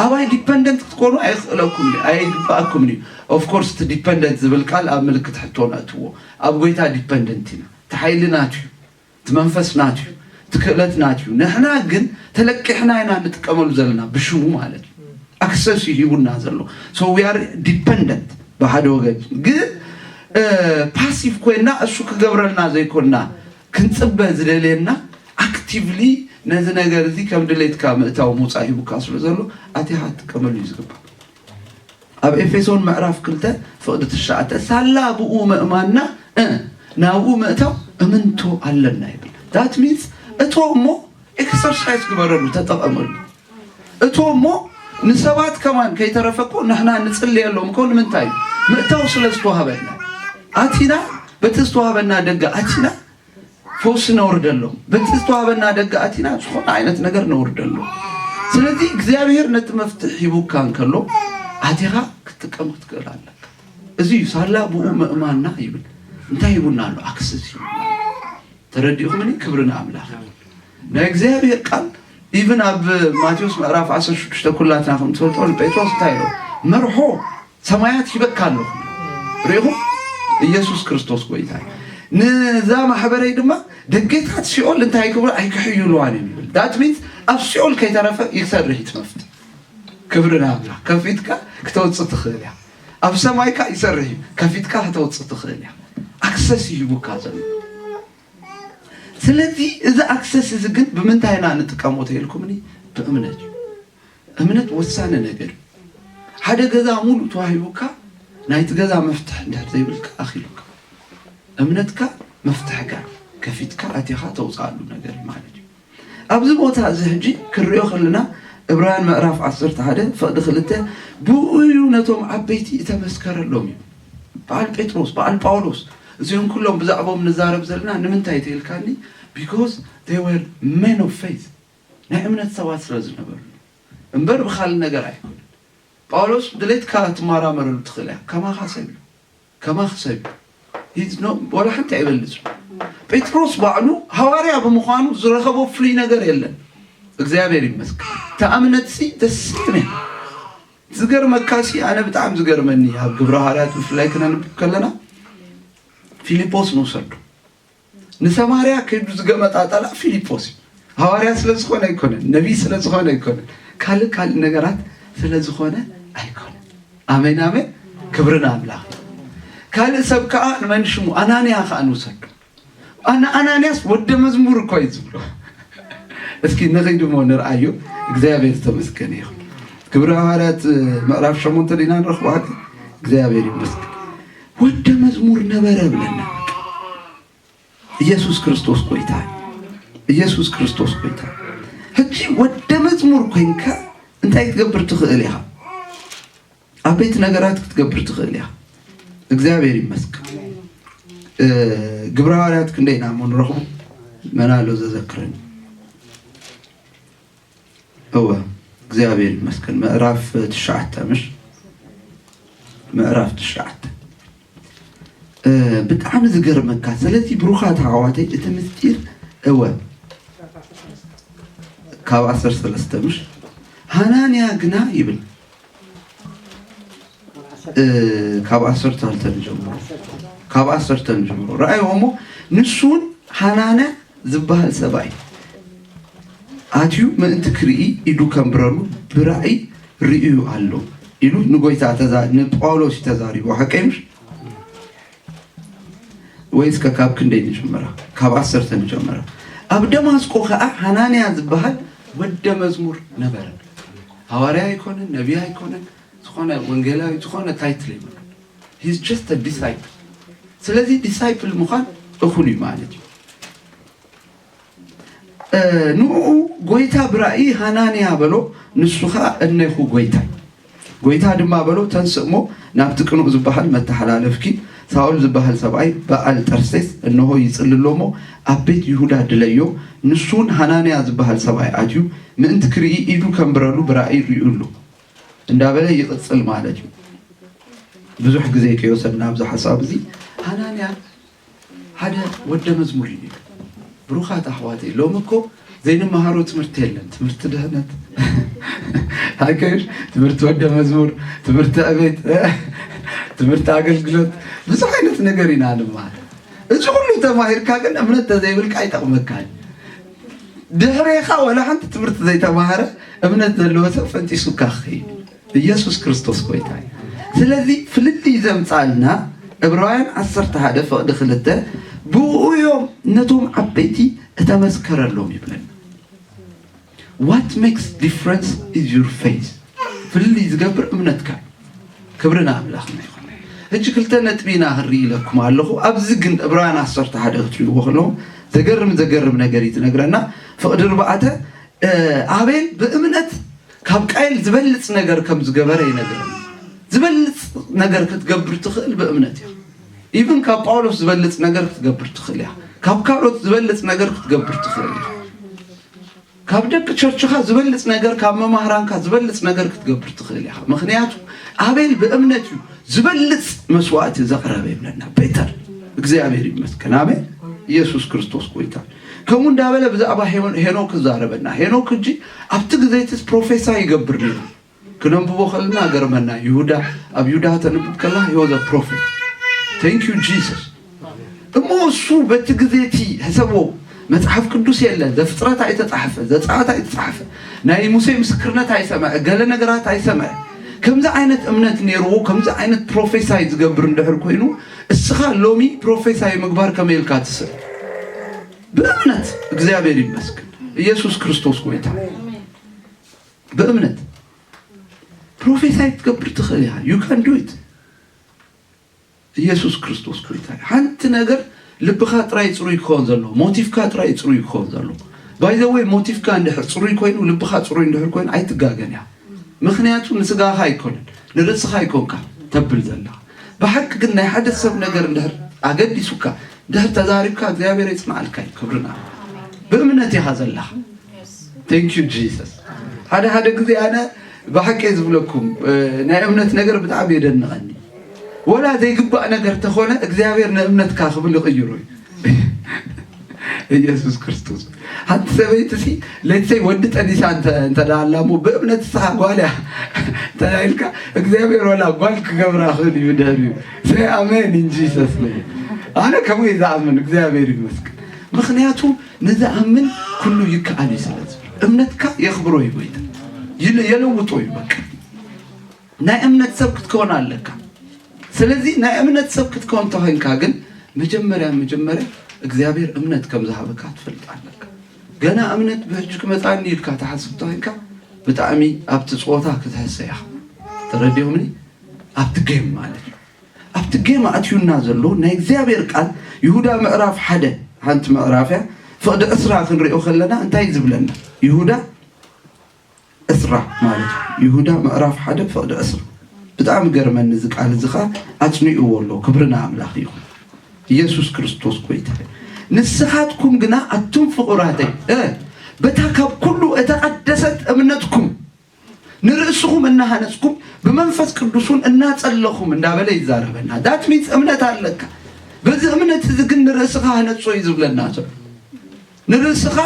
ኣባይ ዲፐንደንት ክትኮኑ ኣይኽእለኩም ኣይግባኣኩም እዩ ኦፍኮርስ እቲ ዲፐንደንት ዝብል ቃል ኣብ ምልክት ሕቶ ነእትዎ ኣብ ጎይታ ዲፐንደንት ኢና እቲ ሓይሊ ናት እዩ እቲ መንፈስ ናት እዩ እቲ ክእለት ናትዩ ንሕና ግን ተለቂሕና ኢና ንጥቀመሉ ዘለና ብሽሙ ማለት እዩ ኣክሰስ እዩ ሂቡና ዘሎ ሶ ዊ ኣር ዲፐንደንት ብሓደ ወገን ግን ፓሲቭ ኮይና እሱ ክገብረልና ዘይኮንና ክንፅበ ዝደልየና ኣክቲቭሊ ነዚ ነገር እዚ ከም ድሌትካ ምእታው ምውፃእ ሂቡካ ስለ ዘሎ ኣቲኻ ክትጥቀመሉ እዩ ዝግባእ ኣብ ኤፌሶን ምዕራፍ ክልተ ፍቕዲ ትሽዓተ ሳላ ብኡ ምእማንና ናብኡ ምእታው እምንቶ ኣለና ይብል ዳት ሚንስ እቶ እሞ ኤክሰርሳይዝ ግበረሉ ተጠቐመሉ እቶ እሞ ንሰባት ከማን ከይተረፈ እኮ ንሕና ንፅልየሎም እኮ ንምንታይ ምእታው ስለ ዝተዋህበና ኣቲና በቲ ዝተዋህበና ደገ ኣቲና ፈውሲ ነውርደሎም በቲ ዝተዋህበና ደገ ኣቲና ዝኾነ ዓይነት ነገር ነውርደሎም ስለዚ እግዚኣብሄር ነቲ መፍትሒ ሂቡካ እንከሎ ኣቲኻ ክትጥቀም ክትክእል ኣለካ እዚ እዩ ሳላ ብኡ ምእማንና ይብል እንታይ ሂቡና ኣሎ ኣክሰስ ሂቡና ተረዲእኹምኒ ክብሪ ንኣምላኽ ናይ እግዚኣብሄር ቃል ኢብን ኣብ ማቴዎስ ምዕራፍ 16 ኩላትና ከም ትፈልጦ ንጴጥሮስ እንታይ ኢሎ መርሖ ሰማያት ሂበካ ኣለኹ ርኢኹም ኢየሱስ ክርስቶስ ጎይታ ንዛ ማሕበረይ ድማ ደገታት ሲኦል እንታይ ክብሉ ኣይክሕይሉዋን እዮም ይብል ዳት ሚንስ ኣብ ሲኦል ከይተረፈ ይሰርሕ ይትመፍት ክብሪ ናብላ ከፊትካ ክተውፅእ ትኽእል እያ ኣብ ሰማይካ ይሰርሕ እዩ ከፊትካ ክተውፅእ ትኽእል እያ ኣክሰስ ይህቡካ ዘሎ ስለዚ እዚ ኣክሰስ እዚ ግን ብምንታይ ኢና ንጥቀሞ ተይልኩምኒ ብእምነት እዩ እምነት ወሳኒ ነገር እዩ። ሓደ ገዛ ሙሉእ ተዋሂቡካ ናይቲ ገዛ መፍትሕ እንድሕር ዘይብልካ ኣኺሉካ እምነትካ መፍትሕካ ከፊትካ ኣቲኻ ተውፅኣሉ ነገር እዩ ማለት እዩ። ኣብዚ ቦታ እዚ ሕጂ ክንሪኦ ከለና እብራውያን ምዕራፍ 11 ፍቕዲ ክልተ ብእዩ ነቶም ዓበይቲ እተመስከረሎም እዩ በዓል ጴጥሮስ በዓል ጳውሎስ እዚኦም ኩሎም ብዛዕባኦም ንዛረብ ዘለና ንምንታይ ተይልካኒ ቢኮዝ ዜይ ወር መን ኦፍ ፌዝ ናይ እምነት ሰባት ስለ ዝነበርሉ እምበር ብካልእ ነገር ኣይኮነን። ጳውሎስ ብድሌትካ ክትማራመረሉ ትክእል እያ ከማካ ሰብ እዩ ከማክ ሰብ እዩ He's not- ወላ ሓንቲ ኣይበልጽ ጴጥሮስ ባዕሉ ሃዋርያ ብምዃኑ ዝረኸቦ ፍሉይ ነገር የለን እግዚኣብሔር ይመስገን እታ እምነት ሲ ደሴም እያ ዝገርመካ ሲ ኣነ ብጣዕሚ ዝገርመኒ ኣብ ግብረ ሃዋርያት ብፍላይ ክነንብብ ከለና ፊልጶስ ንውሰዱ ንሰማርያ ከይዱ ዝገመጣጠላ ፊልጶስ እዩ። ሃዋርያ ስለ ዝኾነ ኣይኮነን፣ ነቢይ ስለ ዝኾነ ኣይኮነን፣ ካልእ ካልእ ነገራት ስለ ዝኾነ ኣይኮነን። ኣሜን ኣሜን፣ ክብሪ ንኣምላኽ። ካልእ ሰብ ከዓ ንመን ሽሙ ኣናንያ ከዓ ንውሰዱ። ኣነ ኣናንያስ ወደ መዝሙር እኮ እዩ ዝብሎ። እስኪ ንኸይድ እሞ ንርኣዩ። እግዚኣብሔር ዝተመስገነ ይኹን። ግብረ ሃዋርያት ምዕራፍ ሸሞንተ ዲና ንረኽቦ ሃገር እግዚኣብሔር ይመስገን። ወደ መዝሙር ነበረ ብለና ኢየሱስ ክርስቶስ ጎይታ ኢየሱስ ክርስቶስ ጎይታ ሕጂ ወደ መዝሙር ኮንካ እንታይ ክትገብር ትኽእል ኢኻ ዓበይቲ ነገራት ክትገብር ትኽእል ኢኻ እግዚኣብሔር ይመስገን ግብረ ሃዋርያት ክንደይና እሞ ንረኽቡ መን ኣሎ ዘዘክረኒ እወ እግዚኣብሔር ይመስገን ምዕራፍ ትሽዓተ ምሽ ምዕራፍ ትሽዓተ ብጣዕሚ ዝገርመካ ስለዚ ብሩኻት ኣሕዋተይ እቲ ምስጢር እወ ካብ ዓሰርተ ሰለስተ ምሽ ሃናንያ ግና ይብል ካብ ዓሰርተ ክልተ ንጀምሮ ካብ ዓሰርተ ንጀምሮ ረኣይዎ እሞ ንሱ እውን ሃናነ ዝበሃል ሰብኣይ ኣትዩ ምእንቲ ክርኢ ኢዱ ከንብረሉ ብራእይ ርእዩ ኣሎ ኢሉ ንጎይታ ንጳውሎስ እዩ ተዛሪቡ ሓቀይ ምሽ ወይ እስከ ካብ ክንደይ ንጀምራ ካብ ዓሰርተ ንጀምራ ኣብ ደማስቆ ከዓ ሃናንያ ዝበሃል ወደ መዝሙር ነበረ ሃዋርያ ኣይኮነን ነቢይ ኣይኮነን ዝኾነ ወንጌላዊ ዝኾነ ታይትል የብሉን ሂዝ ጀስት አ ዲሳይፕል ስለዚ ዲሳይፕል ምዃን እኹል እዩ ማለት እዩ ንኡ ጎይታ ብራእይ ሃናንያ በሎ ንሱ ከዓ እነኹ ጎይታ ጎይታ ድማ በሎ ተንስእ እሞ ናብቲ ቅኑዕ ዝበሃል መተሓላለፍኪ ሳኦል ዝበሃል ሰብኣይ በዓል ጠርሴስ እነሆ ይፅልሎ እሞ ኣብ ቤት ይሁዳ ድለዮ ንሱን ሃናንያ ዝበሃል ሰብኣይ ኣትዩ ምእንቲ ክርኢ ኢዱ ከምብረሉ ብራእይ ርእዩ ኣሎ እንዳበለ ይቕጽል ማለት እዩ። ብዙሕ ግዜ ከይወሰድና ኣብዚ ሓሳብ እዚ ሃናንያ ሓደ ወደ መዝሙር እዩ ነይሩ። ብሩኻት ኣሕዋት ሎሚ እኮ ዘይንመሃሮ ትምህርቲ የለን። ትምህርቲ ድህነት ሃይከሽ፣ ትምህርቲ ወደ መዝሙር፣ ትምህርቲ ዕቤት፣ ትምህርቲ ኣገልግሎት፣ ብዙሕ ዓይነት ነገር ኢና ንመሃር። እዚ ኩሉ ተማሂርካ ግን እምነት ተዘይብልካ ኣይጠቕመካን። ድሕሬኻ ዋላ ሓንቲ ትምህርቲ ዘይተማሃረ እምነት ዘለዎ ሰብ ፈንጢሱካ ክኸይድ ኢየሱስ ክርስቶስ ጎይታ እዩ። ስለዚ ፍልልይ ዘምፃልና ዕብራውያን ዓሰርተ ሓደ ፍቕዲ ክልተ ብኡ እዮም ነቶም ዓበይቲ እተመስከረሎም ይብለና። ዋት ሜክስ ዲፍረንስ ኢዝ ዩር ፌዝ ፍልልይ ዝገብር እምነትካ እዩ። ክብሪ ንኣምላኽና ይኹን። ሕጂ ክልተ ነጥቢ ኢና ክርኢ ኢለኩም ኣለኹ። ኣብዚ ግን ዕብራውያን ዓሰርተ ሓደ ክትሪእዎ ከለኹም ዘገርም ዘገርም ነገር እዩ ዝነግረና። ፍቕዲ ኣርባዕተ ኣቤል ብእምነት ካብ ቃየል ዝበልፅ ነገር ከም ዝገበረ ይነግረና። ዝበልፅ ነገር ክትገብር ትኽእል ብእምነት እዩ። ኢብን ካብ ጳውሎስ ዝበልፅ ነገር ክትገብር ትኽእል እያ። ካብ ካልኦት ዝበልፅ ነገር ክትገብር ትኽእል እያ። ካብ ደቂ ቸርችኻ ዝበልጽ ነገር ካብ መማህራንካ ዝበልጽ ነገር ክትገብር ትኽእል ኢኻ ምኽንያቱ ኣቤል ብእምነት እዩ ዝበልጽ መስዋእቲ ዘቕረበ ይብለና ቤተር እግዚኣብሔር ይመስገን ኣሜን ኢየሱስ ክርስቶስ ጎይታ ከምኡ እንዳበለ ብዛዕባ ሄኖክ ዛረበና ሄኖክ እጂ ኣብቲ ግዜ እቲ ፕሮፌሳ ይገብር ነይሩ ክነንብቦ ከለና ገርመና ይሁዳ ኣብ ይሁዳ ተንብብ ከለና ሂ ዋዝ ፕሮፌት ታንክ ዩ ጂሰስ እሞ እሱ በቲ ግዜ እቲ ሕሰቦ መጽሓፍ ቅዱስ የለ ዘፍጥረት ኣይተጻሕፈ ዘጸአት ኣይተጻሕፈ ናይ ሙሴ ምስክርነት ኣይሰምዐ ገለ ነገራት ኣይሰምዐ ከምዚ ዓይነት እምነት ነይርዎ ከምዚ ዓይነት ፕሮፌሳይ ዝገብር እንድሕር ኮይኑ እስኻ ሎሚ ፕሮፌሳይ ምግባር ከመይ ኢልካ ትስእል ብእምነት እግዚኣብሔር ይመስገን ኢየሱስ ክርስቶስ ጎይታ ብእምነት ፕሮፌሳይ ክትገብር ትኽእል ኢኻ ዩ ካን ዱ ኢት ኢየሱስ ክርስቶስ ጎይታ እዩ። ሓንቲ ነገር ልብኻ ጥራይ ፅሩይ ክኸውን ዘለዎ ሞቲፍካ ጥራይ ፅሩይ ክኸውን ዘለዎ ባይዘወይ ሞቲፍካ እንድሕር ፅሩይ ኮይኑ ልብኻ ፅሩይ እንድሕር ኮይኑ ኣይትጋገን እያ ምክንያቱ ንስጋኻ ኣይኮነን ንርእስኻ ኣይኮንካ ተብል ዘላ ብሓቂ ግን ናይ ሓደ ሰብ ነገር እንድህር ኣገዲሱካ እንድህር ተዛሪብካ እግዚኣብሔር የፅንዓልካ እዩ ክብሪ ንኣምላክ ብእምነት ኢካ ዘለካ Thank you Jesus ሓደ ሓደ ግዜ ኣነ ብሓቂ ዝብለኩም ናይ እምነት ነገር ብጣዕሚ የደንቐኒ ወላ ዘይግባእ ነገር ተኾነ እግዚኣብሔር ንእምነትካ ክብል ይቕይሮ እዩ ኢየሱስ ክርስቶስ ሓንቲ ሰበይቲ ሲ ለትሰይ ወዲ ጠኒሳ እንተ ኣላ እሞ ብእምነት ስኻ ጓል እያ ተላኢልካ እግዚኣብሔር ወላ ጓል ክገብራ ክእል እዩ ድሕር እዩ ሰይ ኣሜን ኢንጂሰስ ኣነ ከምኡ እዩ ዝኣምን እግዚኣብሔር ይመስገን ምክንያቱ ንዝኣምን ኩሉ ይከኣል እዩ ስለ እምነትካ የኽብሮ እዩ ጎይታ የለውጦ እዩ በቃ ናይ እምነት ሰብ ክትከውን ኣለካ ስለዚ ናይ እምነት ሰብ ክትከውን ተኮንካ ግን መጀመርያ መጀመርያ እግዚኣብሔር እምነት ከም ዝሃበካ ትፈልጥ ኣለካ ገና እምነት ብሕጂ ክመፃኒ ኢልካ ትሓስብ ተኮንካ ብጣዕሚ ኣብቲ ፀወታ ክትሕሰ ኢኻ ተረዲኦምኒ ኣብቲ ጌም ማለት እዩ ኣብቲ ጌም ኣትዩና ዘሎ ናይ እግዚኣብሔር ቃል ይሁዳ ምዕራፍ ሓደ ሓንቲ ምዕራፍ እያ ፍቅዲ ዕስራ ክንሪኦ ከለና እንታይ ዝብለና ይሁዳ ዕስራ ማለት እዩ ይሁዳ ምዕራፍ ሓደ ፍቕዲ ዕስራ ብጣዕሚ ገርመኒ እዚ ቃል እዚ ኸዓ ኣፅኒእዎ ኣሎ ክብሪ ንኣምላኽ ይኹን ኢየሱስ ክርስቶስ ጎይታ ንስኻትኩም ግና ኣቱም ፍቑራተይ በታ ካብ ኩሉ እተቐደሰት እምነትኩም ንርእስኹም እናሃነፅኩም ብመንፈስ ቅዱሱን እናፀለኹም እንዳበለ ይዛረበና ዳት ሚንስ እምነት ኣለካ በዚ እምነት እዚ ግን ንርእስኻ ሃነፆ እዩ ዝብለና ዘሎ ንርእስኻ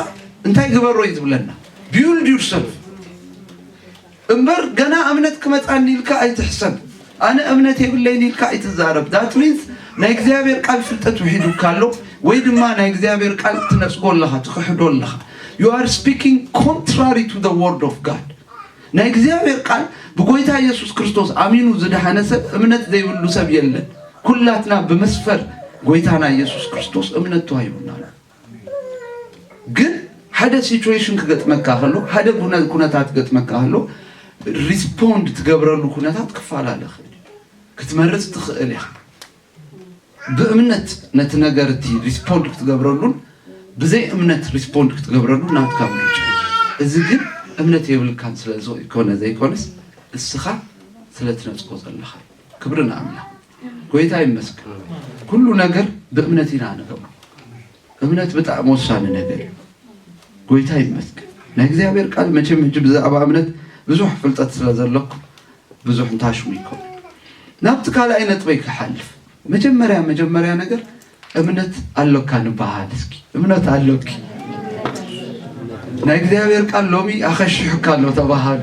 እንታይ ግበሮ እዩ ዝብለና build yourself እምበር ገና እምነት ክመጻኒ ኢልካ ኣይትሕሰብ ኣነ እምነት የብለይን ኢልካ ኣይትዛረብ that means ናይ እግዚኣብሔር ቃል ፍልጠት ውሒዱካ ኣሎ ወይ ድማ ናይ እግዚኣብሔር ቃል ትነጽጎ ኣለኻ ትክሕዶ ኣለኻ you are speaking contrary to the word of God ናይ እግዚኣብሔር ቃል ብጎይታ ኢየሱስ ክርስቶስ ኣሚኑ ዝደሓነ ሰብ እምነት ዘይብሉ ሰብ የለን ኩላትና ብመስፈር ጎይታና ኢየሱስ ክርስቶስ እምነት ተዋሂቡና ኣሎ ግን ሓደ ሲቹዌሽን ክገጥመካ ከሎ ሓደ ኩነታት ክገጥመካ ከሎ ሪስፖንድ ትገብረሉ ኩነታት ክፈላለ ይኽእል እዩ ክትመርፅ ትኽእል ኢኻ ብእምነት ነቲ ነገር እቲ ሪስፖንድ ክትገብረሉን ብዘይ እምነት ሪስፖንድ ክትገብረሉ ናትካ ምርጫ እዚ ግን እምነት የብልካን ስለ ዝኾነ ዘይኮነስ እስኻ ስለ ትነፅጎ ዘለኻ ክብሪ ንኣምላኽ ጎይታ ይመስገን ኩሉ ነገር ብእምነት ኢና ንገብሮ እምነት ብጣዕሚ ወሳኒ ነገር እዩ ጎይታ ይመስገን ናይ እግዚኣብሔር ቃል መቸም ሕጂ ብዛዕባ እምነት ብዙሕ ፍልጠት ስለ ዘለኩ ብዙሕ እንታሽሙ ይከውን ናብቲ ካልኣይ ነጥበይ ክሓልፍ መጀመርያ መጀመርያ ነገር እምነት ኣሎካ ንበሃል እስኪ እምነት ኣሎኪ ናይ እግዚኣብሔር ቃል ሎሚ ኣኸሺሑካ ኣሎ ተባሃሉ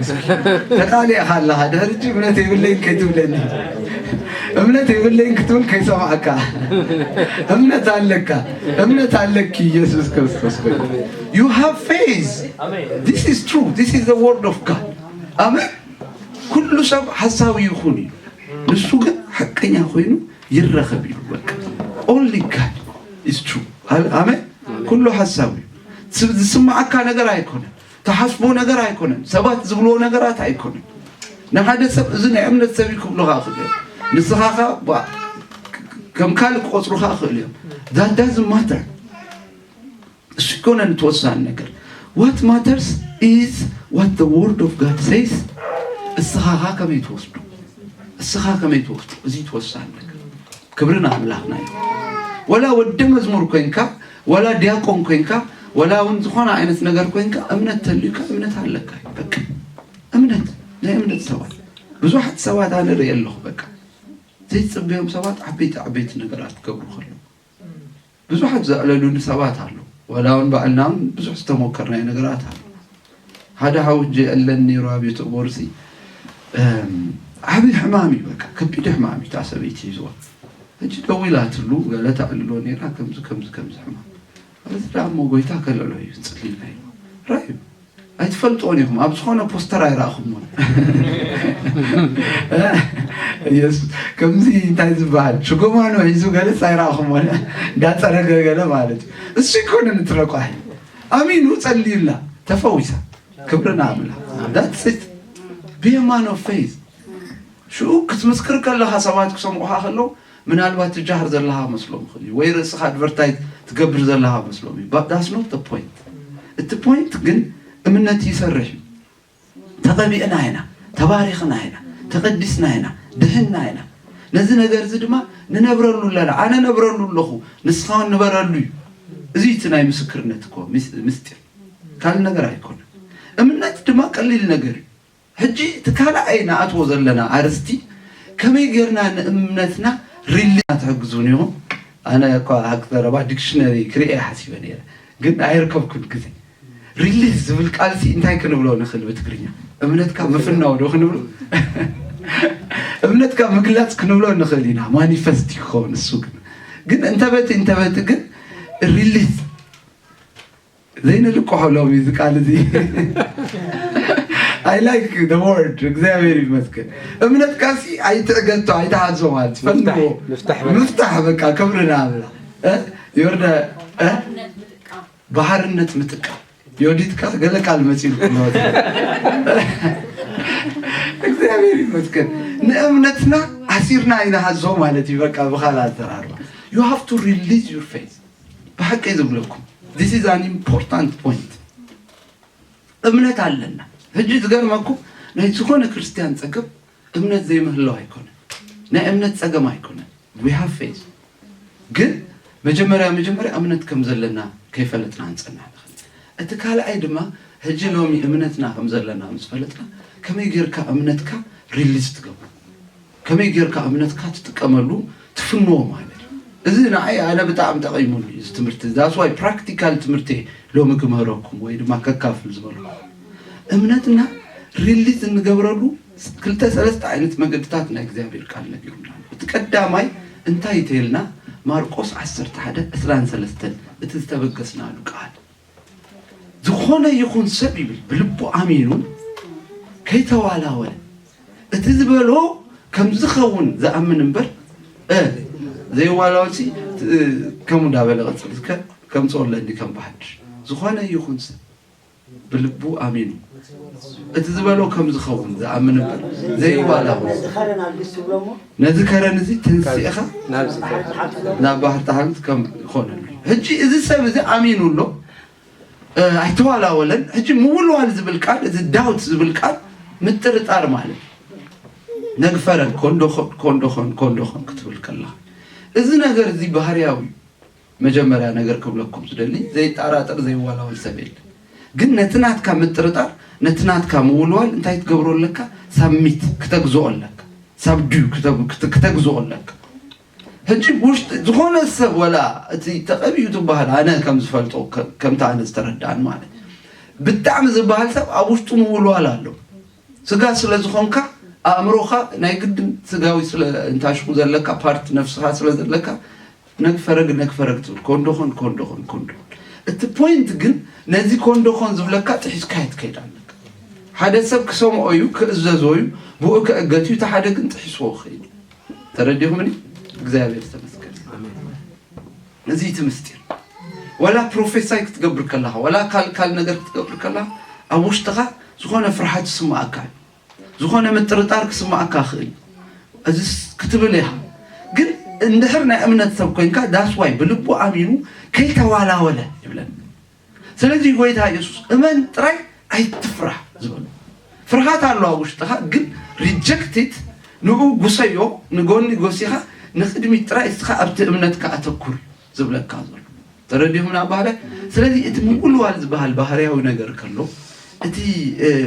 ተቃሊዕኻ ኣለኻ ድሕሪ እጂ እምነት የብለይን ከይትብለኒ እምነት የብለይን ክትብል ከይሰማዕካ እምነት ኣለካ እምነት ኣለኪ ኢየሱስ ክርስቶስ ኮይኑ ዩ ሃቭ ፌዝ ዲስ ኢዝ ትሩ ዲስ ኢዝ ዘ ወርድ ኦፍ ጋድ ኣሜን ኩሉ ሰብ ሓሳዊ ይኹን እዩ ንሱ ግን ሓቀኛ ኮይኑ ይረኸብ እዩ በቃ ኦንሊ ጋድ ኢዝ ትሩ ኣሜን ኩሉ ሓሳብ እዩ ዝ- ዝስማዓካ ነገር ኣይኮነን ተሓስቦ ነገር ኣይኮነን ሰባት ዝብልዎ ነገራት ኣይኮነን ንሓደ ሰብ እዚ ናይ እምነት ሰብ እዩ ክብሉ ከዓ ክእል እዮም ንስኻ ከዓ ባ- ከም ካልእ ክቆፅሩካ ክእል እዮም ዛዳዝ ማተር እሱ ይኮነን እቲ ወሳኒ ነገር ዋት ማተርስ ኢዝ ዋት ዘ ወርድ ኦፍ ጋድ ሰይስ እስኻኻ ከመይ ትወስዱ እስኻ ከመይ ትወስዱ እዚ እቲ ወሳኒ ነገር ክብሪ ንኣምላኽና እዩ ወላ ወዲ መዝሙር ኮንካ ወላ ዲያቆን ኮንካ ወላ እውን ዝኾነ ዓይነት ነገር ኮንካ እምነት ተልዩካ እምነት ኣለካ እዩ በቃ እምነት ናይ እምነት ሰባት ብዙሓት ሰባት ኣነ ርእየ ኣለኹ በቃ ዘይፅበዮም ሰባት ዓበይቲ ዓበይቲ ነገራት ክገብሩ ከለዉ ብዙሓት ዘዕለሉኒ ሰባት ኣለዉ። ዋላ እውን ባዕልና እውን ብዙሕ ዝተሞከርናዮ ነገራት ኣሎ። ሓደ ሓው ጀየለን ነይሩ ኣብ ዩተቦር እዚ ዓብዪ ሕማም እዩ በቃ ከቢድ ሕማም እዩ እታ ሰበይቲ ሒዝዋ ሕጂ ደው ኢላትሉ ገለ ተዕልሎ ነይራ ከምዚ ከምዚ ከምዚ ሕማም እዚ ዳሞ ጎይታ ከልዕሎ እዩ ፅሊኢልና እዩ ራዩ ኣይትፈልጥዎን ኢኹም ኣብ ዝኾነ ፖስተር ኣይረኣኹምዎን ኢየሱስ ከምዚ እንታይ ዝበሃል ሽጎማኑ ሒዙ ገልጽ ኣይረኣኹምዎን እንዳጸረገ ገለ ማለት እዩ እሱ ይኮነን እቲ ረቋሒ ኣሚኑ ጸልዩላ ተፈዊሳ ክብሪ ንኣምላኽ ዳትስ ኢት ቢ ማን ኦፍ ፌዝ ሽኡ ክትምስክር ከለኻ ሰባት ክሰምዑኻ ከለዉ ምናልባት ትጃሃር ዘለኻ መስሎም ይኽእል እዩ ወይ ርእስኻ ኣድቨርታይዝ ትገብር ዘለኻ መስሎም እዩ but that's not the point እቲ ፖይንት ግን እምነት ይሰርሕ እዩ ተቐቢእና ኢና ተባሪኽና ኢና ተቐዲስና ኢና ድሕና ኢና ነዚ ነገር እዚ ድማ ንነብረሉ ኣለና ኣነ ነብረሉ ኣለኹ ንስኻ ውን ንበረሉ እዩ እዚ እቲ ናይ ምስክርነት እኮ ምስጢር ካልእ ነገር ኣይኮነን እምነት ድማ ቀሊል ነገር እዩ ሕጂ እቲ ካልኣይ ንኣትዎ ዘለና ኣርስቲ ከመይ ጌርና ንእምነትና ሪሊ ትሕግዙኒ ኢኹም ኣነ እኳ ሓቂ ዘረባ ዲክሽነሪ ክርኤ ሓሲበ ነይረ ግን ኣይረከብኩን ግዜ ሪሊ ዝብል ቃልሲ እንታይ ክንብሎ ንኽእል ብትግርኛ እምነትካ ምፍናው ዶ ክንብሎ እምነትካ ምግላጽ ክንብሎ ንኽእል ኢና ማኒፈስት እዩ ክኸውን እሱ ግን ግን እንተበቲ እንተበቲ ግን ሪሊ ዘይንልቅሖ ሎሚ እዚ ቃል እዚ I like the word እግዚኣብሔር ይመስገን እምነትካሲ ኣይትዕገቶ ኣይትሃዞ ማለት ፈልዎ ምፍታሕ በቃ። ምፍታሕ በቃ ክብርና ብላ እ? ዮርዳ እ? ባሕርነት ምጥቃም ዮዲትካ ገለ ቃል መፂኡ ክለወጥ እግዚኣብሔር ይመስገን ንእምነትና ኣሲርና ኣይንሃዞ ማለት እዩ በቃ ብካል ኣዘራርባ you have to release your faith ብሓቂ ዝብለኩም this is an important point እምነት ኣለና ሕጂ ዝገርመኩም ናይ ዝኾነ ክርስትያን ጸገም እምነት ዘይምህላው ኣይኮነን ናይ እምነት ጸገም ኣይኮነን we have faith ግን መጀመርያ መጀመርያ እምነት ከም ዘለና ከይፈለጥና ንጸናሕ ንኽእል እቲ ካልኣይ ድማ ሕጂ ሎሚ እምነትና ከም ዘለና ምስ ፈለጥና ከመይ ጌርካ እምነትካ ሪሊዝ ትገብሮ ከመይ ጌርካ እምነትካ ትጥቀመሉ ትፍንዎ ማለት እዩ እዚ ንዓይ ኣነ ብጣዕሚ ጠቂሙኒ እዩ እዚ ትምህርቲ that's why practical ትምህርቲ እየ ሎሚ ክምህረኩም ወይ ድማ ከካፍል ዝበልኩ እምነትና ሪሊዝ እንገብረሉ ክልተ ሰለስተ ዓይነት መገድታት ናይ እግዚኣብሔር ቃል ነጊሩና ኣሎ እቲ ቀዳማይ እንታይ ተይልና ማርቆስ ዓሰርተ ሓደ ዕስራን ሰለስተን እቲ ዝተበገስናሉ ቃል ዝኾነ ይኹን ሰብ ይብል ብልቡ ኣሚኑ ከይተዋላወለ እቲ ዝበሎ ከም ዝኸውን ዝኣምን እምበር ዘይዋላወልሲ ከምኡ እንዳበለ ቀፅል ከምፅኦ ኣለኒ ከም ባህድር ዝኾነ ይኹን ሰብ ብልቡ ኣሚኑ እቲ ዝበሎ ከም ዝኸውን ዝኣምን እምበር ዘይዋላወል ነዚ ከረን እዚ ተንሲእኻ ናብዚ ናብ ባህር ጣሃንት ከም ይኾነሉ ሕጂ እዚ ሰብ እዚ ኣሚኑ ኣሎ ኣይተዋላወለን ሕጂ ምውልዋል ዝብል ቃል እዚ ዳውት ዝብል ቃል ምጥርጣር ማለት ነግፈረን ኮንዶኾን ኮንዶኾን ኮንዶኾን ክትብል ከለኻ እዚ ነገር እዚ ባህርያዊ መጀመርያ ነገር ክብለኩም ዝደሊ ዘይጣራጠር ዘይዋላወል ሰብ የለ ግን ነቲ ናትካ ምጥርጣር ነቲ ናትካ ምውልዋል እንታይ ትገብሮ ኣለካ ሳሚት ክተግዝኦ ኣለካ ሳብዱ ክተግዝኦ ኣለካ ሕጂ ውሽጢ ዝኾነ ሰብ ወላ እቲ ተቐብዩ ትበሃል ኣነ ከም ዝፈልጦ ከምቲ ኣነ ዝተረዳእን ማለት ብጣዕሚ ዝበሃል ሰብ ኣብ ውሽጡ ምውልዋል ኣሎ ስጋ ስለ ዝኾንካ ኣእምሮኻ ናይ ግድን ስጋዊ ስለ እንታሽኹ ዘለካ ፓርት ነፍስኻ ስለ ዘለካ ነግፈረግ ነግፈረግ ትብል ኮንዶኾን ኮንዶኾን ኮንዶኾን እቲ ፖይንት ግን ነዚ ኮንዶኾን ዝብለካ ጥሒስካ የትከይድ ኣለካ ሓደ ሰብ ክሰምኦ እዩ ክእዘዞ እዩ ብኡ ክእገት እዩ እቲ ሓደ ግን ጥሒስዎ ክኸይድ ተረዲኹምኒ እግዚኣብሔር ተመስገን እዚ እቲ ምስጢር ወላ ፕሮፌሳይ ክትገብር ከለኻ ወላ ካልካል ነገር ክትገብር ከለኻ ኣብ ውሽጥኻ ዝኾነ ፍርሓት ይስምኣካ እዩ ዝኾነ ምጥርጣር ክስማኣካ ይኽእል እዚስ ክትብል ኢኻ ግን እንድሕር ናይ እምነት ሰብ ኮይንካ ዳስዋይ ብልቡ ኣሚኑ ከይተዋላወለ ይብለን ስለዚ ጎይታ ኢየሱስ እመን ጥራይ ኣይትፍራህ ዝበሉ ፍርሃት ኣሎ ኣብ ውሽጥኻ ግን ሪጀክትት ንኡ ጉሰዮ ንጎኒ ጎሲኻ ንቅድሚት ጥራይ እስኻ ኣብቲ እምነትካ ኣተኩር ዝብለካ ዘሎ ተረዲኹም ናባህለ ስለዚ እቲ ምውልዋል ዝበሃል ባህርያዊ ነገር ከሎ እቲ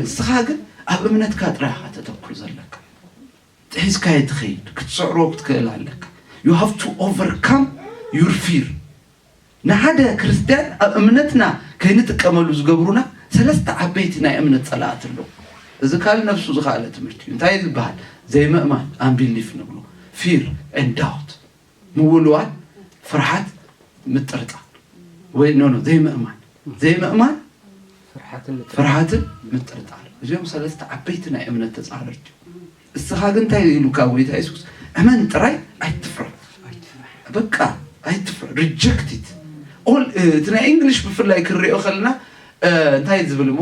እስኻ ግን ኣብ እምነትካ ጥራይ ኢኻ ተተኩር ዘለካ ጥሒስካየ ትኸይድ ክትስዕሮ ክትክእል ኣለካ ዩ ሃቭ ቱ ኦቨርካም ዩር ፊር ንሓደ ክርስትያን ኣብ እምነትና ከይንጥቀመሉ ዝገብሩና ሰለስተ ዓበይቲ ናይ እምነት ፀላእት ኣሎ እዚ ካል ነፍሱ ዝኸኣለ ትምህርቲ እዩ እንታይ ዝበሃል ዘይምእማን ኣንቢሊፍ ንብሎ ፊር ን ዳውት ምውልዋል ፍርሓት ምጥርጣር ወይ ኖ ኖ ዘይምእማን ዘይምእማን ፍርሓትን ምጥርጣር እዚኦም ሰለስተ ዓበይቲ ናይ እምነት ተፃረርቲ እስኻ ግን እንታይ ኢሉካ ጎይታ የሱስ እመን ጥራይ ኣይትፍራ በቃ ኣይትፍራ ሪጀክቲት እቲ ናይ እንግሊሽ ብፍላይ ክንሪኦ ከለና እንታይ ዝብል እሞ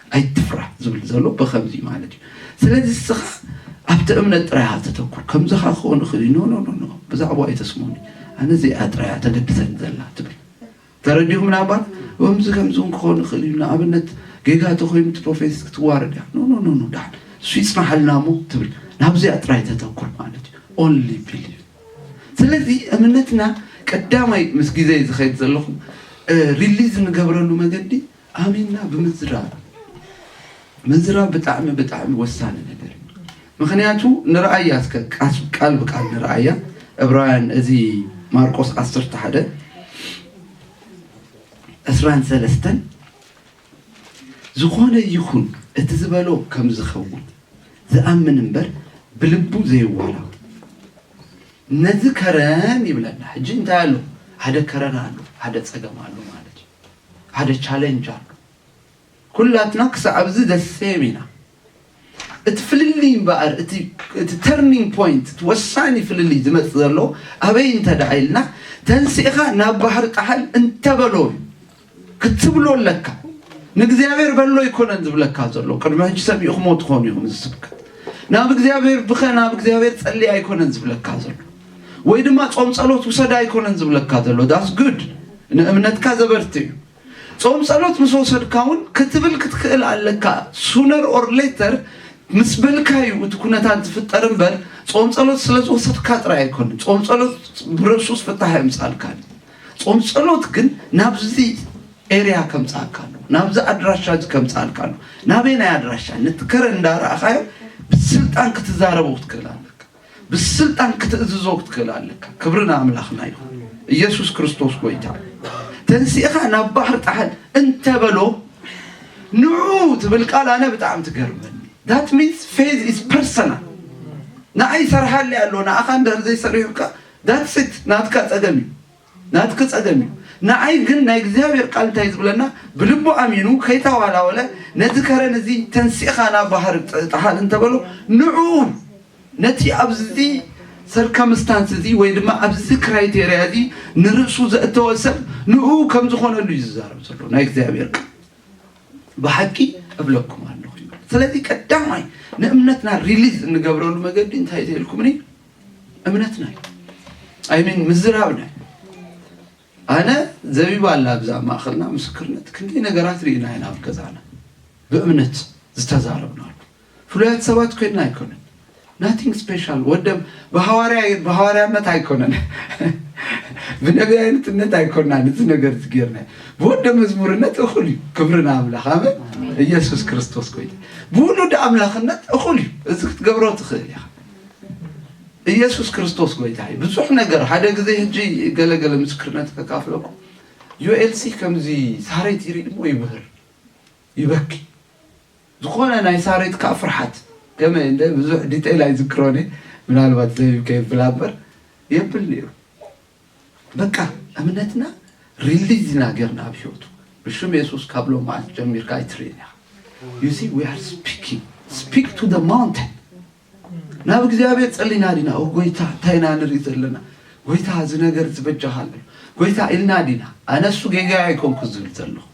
ኣይትፍራሕ ዝብል ዘሎ ብኸምዚ እዩ ማለት እዩ። ስለዚ እስኻ ኣብቲ እምነት ጥራይ ኢኻ ተተኩር። ከምዝኻ ክኸውን ይኽእል እዩ። ኖኖኖኖ ብዛዕባኡ ኣይተስምዑኒ ኣነ እዚኣ ጥራይ እያ ተገድሰኒ ዘላ ትብል። ተረዲኹምና እባ ከምዚ ከምዚ እውን ክኸውን ይኽእል እዩ ንኣብነት ጌጋ ተኮይኑ እቲ ፕሮፌት ክትዋረድ እያ ኖኖኖኖ ዳሓን እሱ ይጽናሓልና እሞ ትብል። ናብዚኣ ጥራይ ተተኩር ማለት እዩ። ኦንሊ ቢሊቭ ስለዚ እምነትና ቀዳማይ ምስ ግዜ ዝኸይድ ዘለኹም ሪሊዝ ንገብረሉ መገዲ ኣሚንና ብምዝራብ ምዝራብ ብጣዕሚ ብጣዕሚ ወሳኒ ነገር እዩ። ምክንያቱ ንርኣያ እስከ ቃል ብቃል ንርኣያ ዕብራውያን እዚ ማርቆስ ዓሰርተ ሓደ ዕስራን ሰለስተን ዝኾነ ይኹን እቲ ዝበሎ ከም ዝኸውን ዝኣምን እምበር ብልቡ ዘይዋላው ነዚ ከረን ይብለና። ሕጂ እንታይ ኣሎ? ሓደ ከረን ኣሎ፣ ሓደ ፀገም ኣሎ ማለት እዩ። ሓደ ቻለንጅ ኣሎ ኩላትና ክሳዕ ኣብዚ the same ኢና እቲ ፍልልይ እምበኣር እቲ እቲ ተርኒንግ ፖይንት እቲ ወሳኒ ፍልልይ ዝመፅእ ዘሎ ኣበይ እንተ ደኣ ኢልና ተንሲእኻ ናብ ባህሪ ጣሕል እንተበሎ እዩ ክትብሎ ኣለካ ንእግዚኣብሔር በሎ ኣይኮነን ዝብለካ ዘሎ ቅድሚ ሕጂ ሰሚእኹሞ ትኾኑ ኢኹም እዚ ስብከት ናብ እግዚኣብሔር ብኸ ናብ እግዚኣብሔር ጸልይ ኣይኮነን ዝብለካ ዘሎ ወይ ድማ ጾም ጸሎት ውሰድ ኣይኮነን ዝብለካ ዘሎ ዳስ good ንእምነትካ ዘበርት እዩ ጾም ጸሎት ምስ ወሰድካ ውን ክትብል ክትክእል ኣለካ ሱነር ኦር ሌተር ምስ በልካ እዩ እቲ ኩነታት ዝፍጠር እምበር ጾም ጸሎት ስለ ዝወሰድካ ጥራይ ኣይኮነን ጾም ጸሎት ብረሱስ ፍታሕ የምጻልካ ጾም ጸሎት ግን ናብዚ ኤርያ ከምጻካ ኣሎ ናብዚ ኣድራሻ እዚ ከምጻልካ ኣሎ ናበይ ናይ ኣድራሻ ነቲ ከረ እንዳረኣኻዮ ብስልጣን ክትዛረቡ ክትክእል ኣለካ ብስልጣን ክትእዝዞ ክትክእል ኣለካ ክብሪ ንኣምላኽና ይኹን ኢየሱስ ክርስቶስ ጎይታ ተንሲእኻ ናብ ባሕር ጣሕል እንተበሎ ንዑ ትብል ቃል ኣነ ብጣዕሚ ትገርመኒ ዳት ሚንስ ፌዝ ኢዝ ፐርሰናል ንዓይ ይሰርሓለይ ኣሎ ንኣኻ እንድሕር ዘይሰሪሑካ ዳትስት ናትካ ፀገም እዩ ናትኪ ጸገም እዩ ንዓይ ግን ናይ እግዚኣብሔር ቃል እንታይ ዝብለና ብልቡ ኣሚኑ ከይተዋላወለ ነዚ ከረን እዚ ተንሲእኻ ናብ ባህሪ ጣሓል እንተበሎ ንዑኡ ነቲ ኣብዚ ሰርከምስታንስ እዚ ወይ ድማ ኣብዚ ክራይቴርያ እዚ ንርእሱ ዘእተወ ሰብ ንኡ ከም ዝኾነሉ እዩ ዝዛረብ ዘሎ ናይ እግዚኣብሔር ቃል ብሓቂ እብለኩም ኣለኹ ይብል ስለዚ ቀዳማይ ንእምነትና ሪሊዝ እንገብረሉ መገዲ እንታይ ተልኩምኒ እምነትና ኣይሚን ምዝራብና ኣነ ዘቢባ ኣላ ኣብዛ ማእኸልና ምስክርነት ክንደይ ነገራት ርኢና ኢና ኣብ ገዛና ብእምነት ዝተዛረብናሉ ፍሉያት ሰባት ኮይና ኣይኮነን ናቲንግ ስፔሻል ወደም ብሃዋርያነት ኣይኮነን ብነቢያዊነትነት ኣይኮና ነዚ ነገር ዝገርና ብወደ መዝሙርነት እኹል እዩ ክብርና ኣምላኽ ኣመን ኢየሱስ ክርስቶስ ኮይኑ ብውሉድ ኣምላኽነት እኹል እዩ እዚ ክትገብሮ ትኽእል ኢኻ ኢየሱስ ክርስቶስ ጎይታ እዩ። ብዙሕ ነገር ሓደ ግዜ ሕጂ ገለገለ ምስክርነት ከካፍለኩ ዩኤልሲ ከምዚ ሳሬት ይርኢ እሞ ይምህር ይበኪ ዝኾነ ናይ ሳሬት ከዓ ፍርሓት ከመ እንደ ብዙሕ ዲቴይል ኣይዝክሮን ምናልባት ዘቢብ ከየብላ እምበር የብል ነይሩ በቃ እምነትና ሪሊዝ ኢና ገርና ኣብ ህይወቱ ብሽም የሱስ ካብ ሎም መዓልቲ ጀሚርካ ኣይትርእን ኢኻ ዩ ሲ ዊ ኣር ስፒኪንግ ስፒክ ቱ ደ ማውንቴን ናብ እግዚኣብሔር ጸሊና ዲና ኦ ጎይታ እንታይ ኢና ንርኢ ዘለና ጎይታ እዚ ነገር እዚ በጃኻ ኣሎ ጎይታ ኢልና ዲና ኣነሱ ጌጋይ ኣይኮንኩ ዝብል ዘለኹ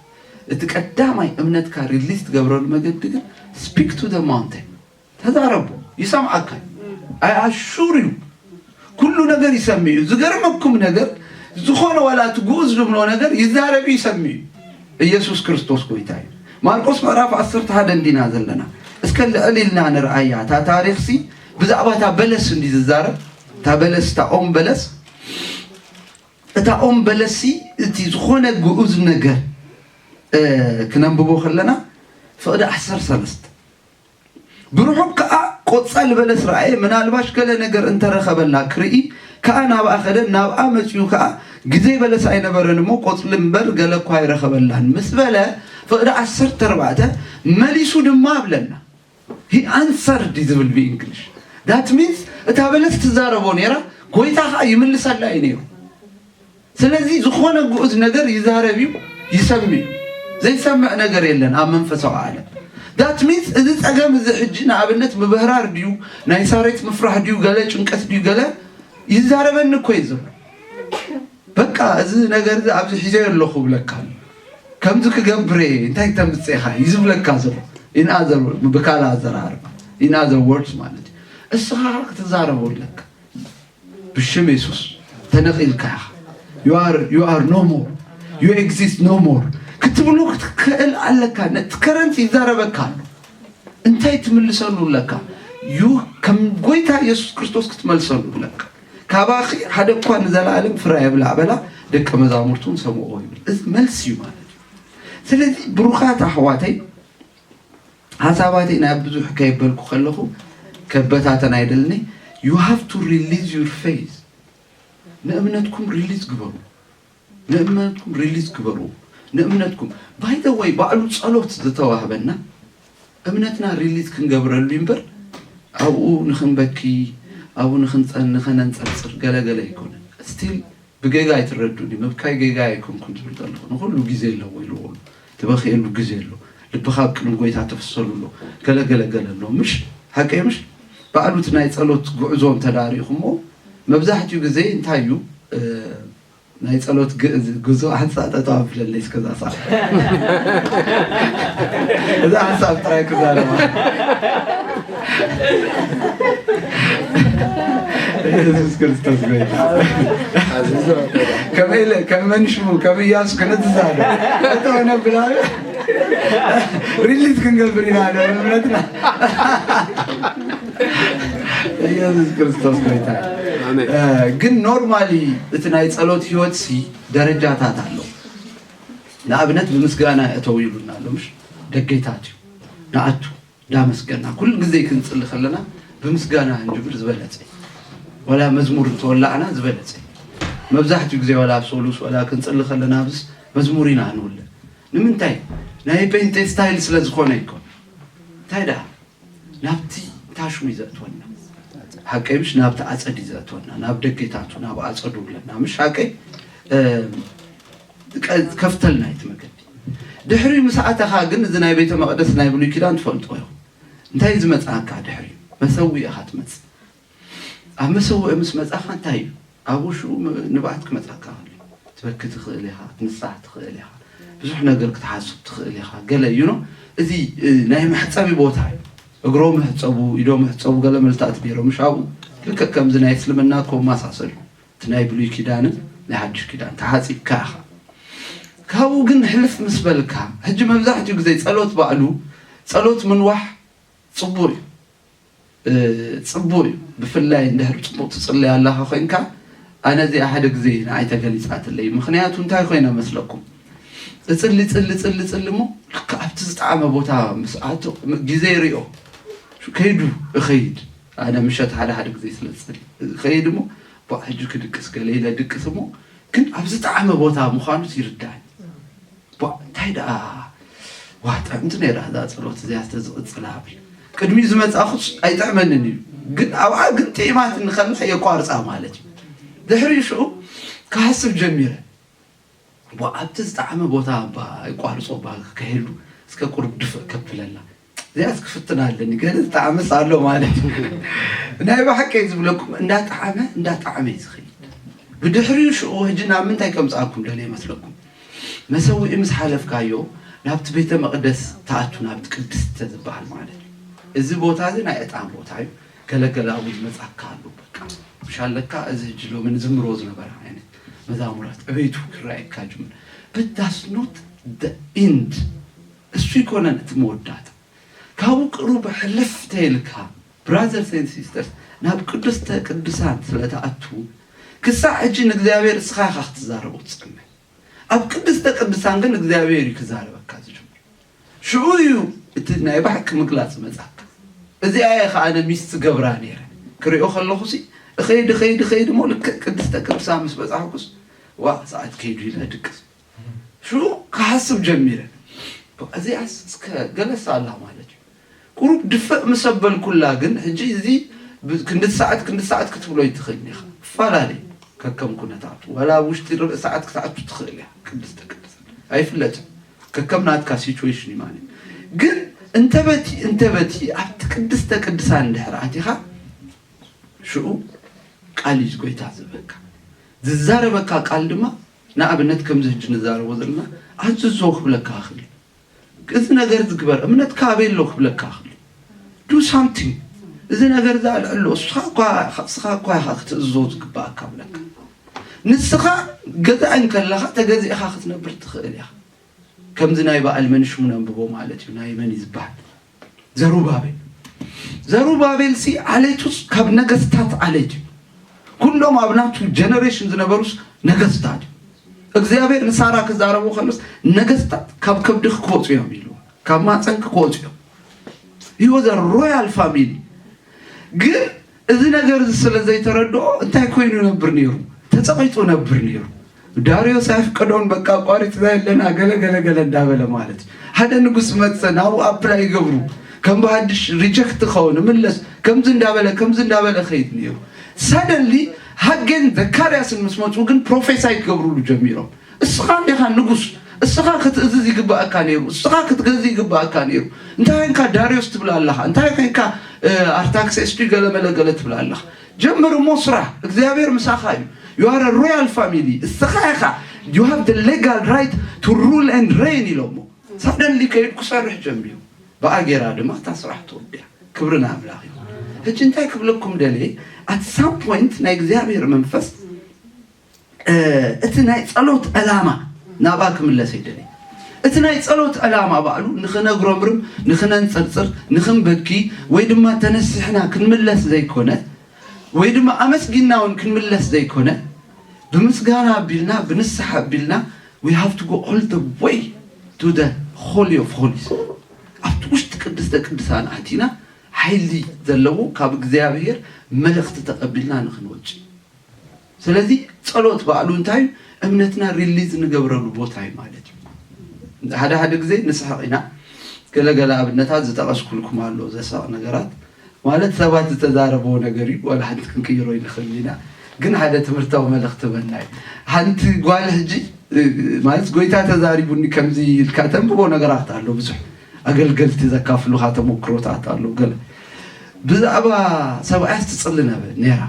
እቲ ቀዳማይ እምነትካ ሪሊስ ትገብረሉ መገዲ ግን ስፒክ ቱ ደ ማውንቴን ተዛረቡ ይሰምዓካ ኣይ ኣሹር ዩ ኩሉ ነገር ይሰምዕ እዩ ዝገርመኩም ነገር ዝኾነ ዋላ እቲ ግኡዝ ዝብሎ ነገር ይዛረብ እዩ ይሰምዕ እዩ ኢየሱስ ክርስቶስ ጎይታ እዩ ማርቆስ ምዕራፍ 11 እንዲና ዘለና እስከ ልዕል ኢልና ንርኣያ እታ ታሪክ ሲ ብዛዕባ እታ በለስ እንዲ ዝዛረብ እታ በለስ እታ ኦም በለስ እታ ኦም በለስ ሲ እቲ ዝኾነ ግኡዝ ነገር ክነንብቦ ከለና ፍቅዲ 13 ብርሑቕ ከኣ ቆጻል በለስ ረኣየ፣ ምናልባሽ ገለ ነገር እንተ ረኸበላ ክርኢ ከኣ ናብኣ ከደ፣ ናብኣ መጺኡ ከኣ ግዜ በለስ ኣይነበረን እሞ ቆጽሊ እምበር ገለ እኳ ኣይረኸበላን ምስ በለ፣ ፍቕዲ ዓሰርተ ኣርባዕተ፣ መሊሱ ድማ ኣብለና፣ He answered እዩ ዝብል ብእንግሊሽ፣ that means እታ በለስ ትዛረቦ ነይራ፣ ጐይታ ከኣ ይምልሰላ እዩ ነይሩ። ስለዚ ዝኾነ ግኡዝ ነገር ይዛረብ እዩ ይሰምዕ እዩ ዘይሰምዕ ነገር የለን ኣብ መንፈሳዊ ዓለም ዳት ሚንስ እዚ ፀገም እዚ ሕጂ ንኣብነት ምብህራር ድዩ ናይ ሳሬት ምፍራሕ ድዩ ገለ ጭንቀት ድዩ ገለ ይዛረበኒ እኮ እዩ ዘሎ በቃ እዚ ነገር እዚ ኣብዚ ሒዘ ኣለኹ ብለካ ከምዚ ክገብር እየ እንታይ ተምፅእኻ እዩ ዝብለካ ዘሎ ኢንኣዘር ብካልእ ኣዘራርባ ኢንኣዘር ወርድስ ማለት እዩ እስኻ ክትዛረቦ ኣለካ ብሽም የሱስ ተነቂልካ ኢኻ you are you are no more you exist no more ክትብሉ ክትክእል ኣለካ ነቲ ከረንት ይዛረበካ ኣሎ እንታይ ትምልሰሉ ኣለካ ዩ ከም ጎይታ ኢየሱስ ክርስቶስ ክትመልሰሉ ኣለካ ካባኺ ሓደ እኳ ንዘለኣለም ፍረ የብላ በላ ደቀ መዛሙርቱን ሰምኦ ይብል እዚ መልሲ እዩ ማለት ስለዚ ብሩኻት ኣሕዋተይ ሓሳባተይ ናብ ብዙሕ ከየበልኩ ከለኹ ከበታተን ኣይደልንይ you have to release your faith ንእምነትኩም ሪሊዝ ግበሩ ንእምነትኩም ሪሊዝ ግበሩ ንእምነትኩም by the way ባዕሉ ጸሎት ዝተዋህበና እምነትና ሪሊዝ ክንገብረሉ እምበር ኣብኡ ንክንበኪ ኣብኡ ንክንጸን ንከነንጸርጽር ገለገለ ኣይኮነን ስቲል ብጌጋ ኣይትረዱኒ ምብካይ ጌጋ ኣይኮንኩን ዝብል ዘለኹ ንኩሉ ግዜ ኣለዎ ኢልዎ ትበኽየሉ ግዜ ኣሎ ልብኻ ኣብ ቅድሚ ጎይታ ተፍስሰሉ ኣሎ ገለ ገለ ገለ ኣሎ ምሽ ሓቀይ ምሽ ባዕሉ እቲ ናይ ጸሎት ጉዕዞ እንተ ርኢኹሞ መብዛሕትኡ ግዜ እንታይ እዩ ናይ ጸሎት ጉዞ ሓንሳእ ጠጠው ኣብለለይ እስከዛ ሳዕ እዛ ሓንሳብ ጥራይ ክዛረባ ኢየሱስ ክርስቶስ ጎይታ ኣዚዞ ከመይ ኢለ ከም መንሽሙ ከም እያሱ ክንትዛለ እቶ ነብላ ሪሊዝ ክንገብር ኢና ዶ እምነትና ኢየሱስ ክርስቶስ ጎይታ ኣሜን። እ፣ ግን ኖርማሊ እቲ ናይ ጸሎት ህይወት ሲ ደረጃታት ኣሎ ንኣብነት ብምስጋና እተው ይብሉና ኣሎ ምሽ ደገይታት እዩ ንኣቱ ዳመስገና ኩሉ ግዘ ክንጽሊ ከለና ብምስጋና እንድብር ዝበለጸ እዩ ዋላ መዝሙር እንተወላዕና ዝበለጸ እዩ መብዛሕትኡ ግዘ ዋላ ኣብ ሶሉስ ዋላ ክንጽሊ ከለና ኣብስ መዝሙር ኢና ንውልዕ ንምንታይ ናይ ጴንጤ ስታይል ስለ ዝኾነ ይኮን እንታይ ደኣ ናብቲ ታሽሙ እዩ ዘእትወና ሓቀይ ምሽ ናብቲ ኣፀድ እዩ ዘእትወና ናብ ደጌታቱ ናብ ኣፀዱ ብለና ምሽ ሓቀይ ከፍተልና እቲ መገዲ ድሕሪ ምስ ኣተኻ ግን እዚ ናይ ቤተ መቅደስ ናይ ብሉይ ኪዳን ትፈልጦ ኢኹም እንታይ ዝመጽኣካ ድሕሪ መሰውኢ ኢኻ ትመጽእ ኣብ መሰውኢ ምስ መጻኻ እንታይ እዩ ኣብ ውሽኡ ንብዓት ክመጻካ ከሎ ትበኪ ትኽእል ኢኻ ትንሳሕ ትኽእል ኢኻ ብዙሕ ነገር ክትሓስብ ትኽእል ኢኻ ገለ እዩ ኖ እዚ ናይ መሕጸቢ ቦታ እዩ እግሮ መሕጸቡ ኢዶ መሕጸቡ ገለ መልታእቲ ገይሮም ሻቡ ልክዕ ከምዚ ናይ እስልምና ኮማሳሰሉ እቲ ናይ ብሉይ ኪዳንን ናይ ሓዱሽ ኪዳን ተዓጺካ ኢካ ካብኡ ግን ሕልፍ ምስ በልካ ሕጂ መብዛሕትኡ ግዜ ጸሎት ባእሉ ጸሎት ምንዋሕ ጽቡቅ እዩ ጽቡቅ እዩ ብፍላይ እንድሕር ጽቡቅ ትጽለይ ኣለካ ኮይንካ ኣነ እዚኣ ሓደ ግዜ ንዓይ ተገሊጻትለይ ምክንያቱ እንታይ ኮይነ መስለኩም እጽሊ ጽሊ ጽሊ ጽሊ እሞ ልክ ኣብቲ ዝጠዓመ ቦታ ምስ ኣቶ ግዜ ይሪኦ ከይዱ እኸይድ ኣነ ምሸት ሓደ ሓደ ግዜ ስለ ዝጸሊ እከይድ እሞ ባእ ሕጂ ክድቅስ ገለ ኢለ እድቅስ እሞ ግን ኣብ ዝጠዓመ ቦታ ምዃኑስ ይርድኣኒ ባእ እንታይ ደኣ ዋእ ጥዕምቲ ነይራ እዛ ጸሎት እዚኣ ዝተዝቕጽላ ብል ቅድሚኡ ዝመጻኹስ ኣይጥዕመንን እዩ ግን ኣብኣ ግን ጥዒማትኒ ከላ የቋርጻ ማለት እዩ ድሕሪ ሽኡ ክሃስብ ጀሚረ እባ ኣብቲ ዝጠዓመ ቦታ እባ የቋርጾ እባ ክካየሉ እስከ ቁሩብ ድፍእ ከብለላ እዚኣስ ክፍትና ኣለኒ ገለ ዝጠዓመስ ኣሎ ማለት እዩ ናይ ብሓቂ እዩ ዝብለኩም እንዳጠዓመ እንዳጠዓመ እዩ ዝኸይድ ብድሕሪኡ ሽኡ ህጂ ናብ ምንታይ ከምጽኣኩም ደልየ መስለኩም መሰውኢ ምስ ሓለፍካዮ ናብቲ ቤተ መቕደስ ትኣቱ ናብቲ ቅድስተ ዝበሃል ማለት እዩ እዚ ቦታ እዚ ናይ ዕጣን ቦታ እዩ ገለገላ እውን ይመጻካ ኣሎ በቃ ምሻለካ እዚ ህጂ ሎሚ ንዝምሮ ዝነበረ ዓይነት መዛሙራት ዕቤቱ ክረኣየካ ጅምር but that's not the end እሱ ኣይኮነን እቲ መወዳእታ ካብኡ ቅሩብ ሕልፍ ተይልካ brothers and sisters ናብ ቅዱስተ ቅዱሳን ስለ ትኣቱ ክሳዕ ሕጂ ንእግዚኣብሔር እስኻ ኢኻ ክትዛረቦ ትጸንሕ ኣብ ቅድስተ ቅዱሳን ግን እግዚኣብሔር እዩ ክዛረበካ ዝጅምር ሽዑ እዩ እቲ ናይ ባሕቂ ምግላጽ ዝመጻካ። እዚኣ እየ ከኣ ኣነ ሚስ ዝገብራ ነይረ። ክሪኦ ከለኹሲ እኸይድ እኸይድ እኸይድ እሞ ልክዕ ቅድስተ ቅዱሳን ምስ በጻሕኩስ ዋእ ሰዓት ከይዱ ኢለ እድቅስ። ሽዑ ክሓስብ ጀሚረ። እዚኣስ እስከ ገለስ ኣላ ማለት እዩ። ቁሩብ ድፍእ ምስ ኣበልኩላ ግን ሕጂ እዚ ክንድቲ ሰዓት ክንድቲ ሰዓት ክትብሎ ኣይትኽእልን ኢኻ። ይፈላለ እዩ ከከም ኩነታቱ። ዋላ ኣብ ውሽጢ ርብዒ ሰዓት ክትኣቱ ትኽእል እያ ቅድስተ ቅዱሳን። ኣይፍለጥን ከከም ናትካ ሲቹዌሽን እዩ ማለት እዩ። ግን እንተ በቲ እንተ በቲ ኣብቲ ቅድስተ ቅድሳን እንድሕር ኣቲኻ ሽኡ ቃል እዩ ጎይታ ዝህበካ። ዝዛረበካ ቃል ድማ ንኣብነት ከምዚ ሕጂ ንዛረቦ ዘለና ኣዝዝ ዞ ክብለካ ይኽእል እዩ። እዚ ነገር እዚ ግበር እምነትካ ኣበይ ኣሎ ክብለካ ክእል ዱ ሳምቲንግ እዚ ነገር እዚ ኣልዕሎ እስኻ እኳ ኢኻ ክትእዝዞ ዝግባኣካ ብለካ ንስኻ ገዛእ እንከለኻ ተገዚእኻ ክትነብር ትኽእል ኢኻ ከምዚ ናይ በኣል መንሽሙ ነንብቦ ማለት እዩ ናይ መን እዩ ዝበሃል ዘሩባቤል ዘሩባቤልሲ ዓሌቱስ ካብ ነገስታት ዓሌት እዩ። ኩሎም ኣብ ናቱ ጀነሬሽን ዝነበሩስ ነገስታት እዩ። እግዚኣብሔር ንሳራ ክዛረቡ ከሎስ ነገስታት ካብ ከብድኽ ክወፁ እዮም ኢሉ ካብ ማፀንክ ክወፁ እዮም ሂወዘ ሮያል ፋሚሊ ግን እዚ ነገርዚ ስለ ዘይተረድኦ እንታይ ኮይኑ ይነብር ነይሩ? ተጸቒጡ ነብር ነይሩ። ዳርዮስ ኣይፍቀዶን በቃ ኣቋሪጽና የለና ገለ ገለ ገለ እንዳበለ ማለት እዩ። ሓደ ንጉስ መጸ ናብኡ ኣፕላይ ይገብሩ ከም ብሃድሽ ሪጀክት ከው ንምለስ ከምዚ እንዳበለ ከምዚ እንዳበለ ከይድ ነይሩ። ሰደንሊ ሃጌን ዘካርያስን ምስ መጹ ግን ፕሮፌሳይ ክገብሩሉ ጀሚሮም። እስኻ እንዲኻ ንጉስ፣ እስኻ ክትእዝዝ ይግበኣካ ነይሩ፣ እስኻ ክትገዝእ ይግበኣካ ነይሩ፣ እንታይ ዄንካ ዳርዮስ ትብል ኣለኻ፣ እንታይ ዄንካ ኣርታክሴስ ዱይ ገለመለ ገለ ትብል ኣለኻ፣ ጀምር እሞ ስራሕ፣ እግዚኣብሔር ምሳኻ እዩ፣ you are a royal family፣ እስኻ ኢኻ you have the legal right to rule and reign ኢሎሞ፣ suddenly ከይዱ ክሰርሕ ጀሚሩ፣ ብኣ ገይራ ድማ እታ ስራሕ ተወዲኣ፣ ክብሪ ንኣምላኽ ይኹን። ሕጂ እንታይ ክብለኩም ደልየ፣ at some point ናይ እግዚኣብሔር መንፈስ፣ እቲ ናይ ጸሎት ዕላማ ናባ ክምለስ ይደሊ እቲ ናይ ጸሎት ዕላማ ባዕሉ ንኽነግሮምርም ንኽነንጸርጽር ንኽንበኪ ወይ ድማ ተነሲሕና ክንምለስ ዘይኮነ ወይ ድማ ኣመስጊና እውን ክንምለስ ዘይኮነ ብምስጋና ኣቢልና ብንስሓ ኣቢልና we have to go all the way to the holy of holies ኣብቲ ውሽጢ ቅድስተ ቅዱሳን ኣቲና ሓይሊ ዘለዎ ካብ እግዚኣብሔር መልእኽቲ ተቐቢልና ንኽንወጭ ስለዚ ጸሎት ባዕሉ እንታይ እዩ እምነትና ሪሊዝ ንገብረሉ ቦታ እዩ ማለት እዩ። ሓደ ሓደ ግዜ ንስሕቕ ኢና ገለ ገለ ኣብነታት ዝጠቐስኩልኩም ኣሎ ዘስሕቕ ነገራት ማለት ሰባት ዝተዛረብዎ ነገር እዩ ዋላ ሓንቲ ክንቅይሮ ይንኽእል ኢና ግን ሓደ ትምህርታዊ መልእኽቲ በና እዩ ሓንቲ ጓል ሕጂ ማለት ጎይታ ተዛሪቡኒ ከምዚ ኢልካ ተንብቦ ነገራት ኣሎ ብዙሕ ኣገልገልቲ ዘካፍሉኻ ተሞክሮታት ኣሎ ገለ ብዛዕባ ሰብኣያስ ትጽሊ ነበ ነራ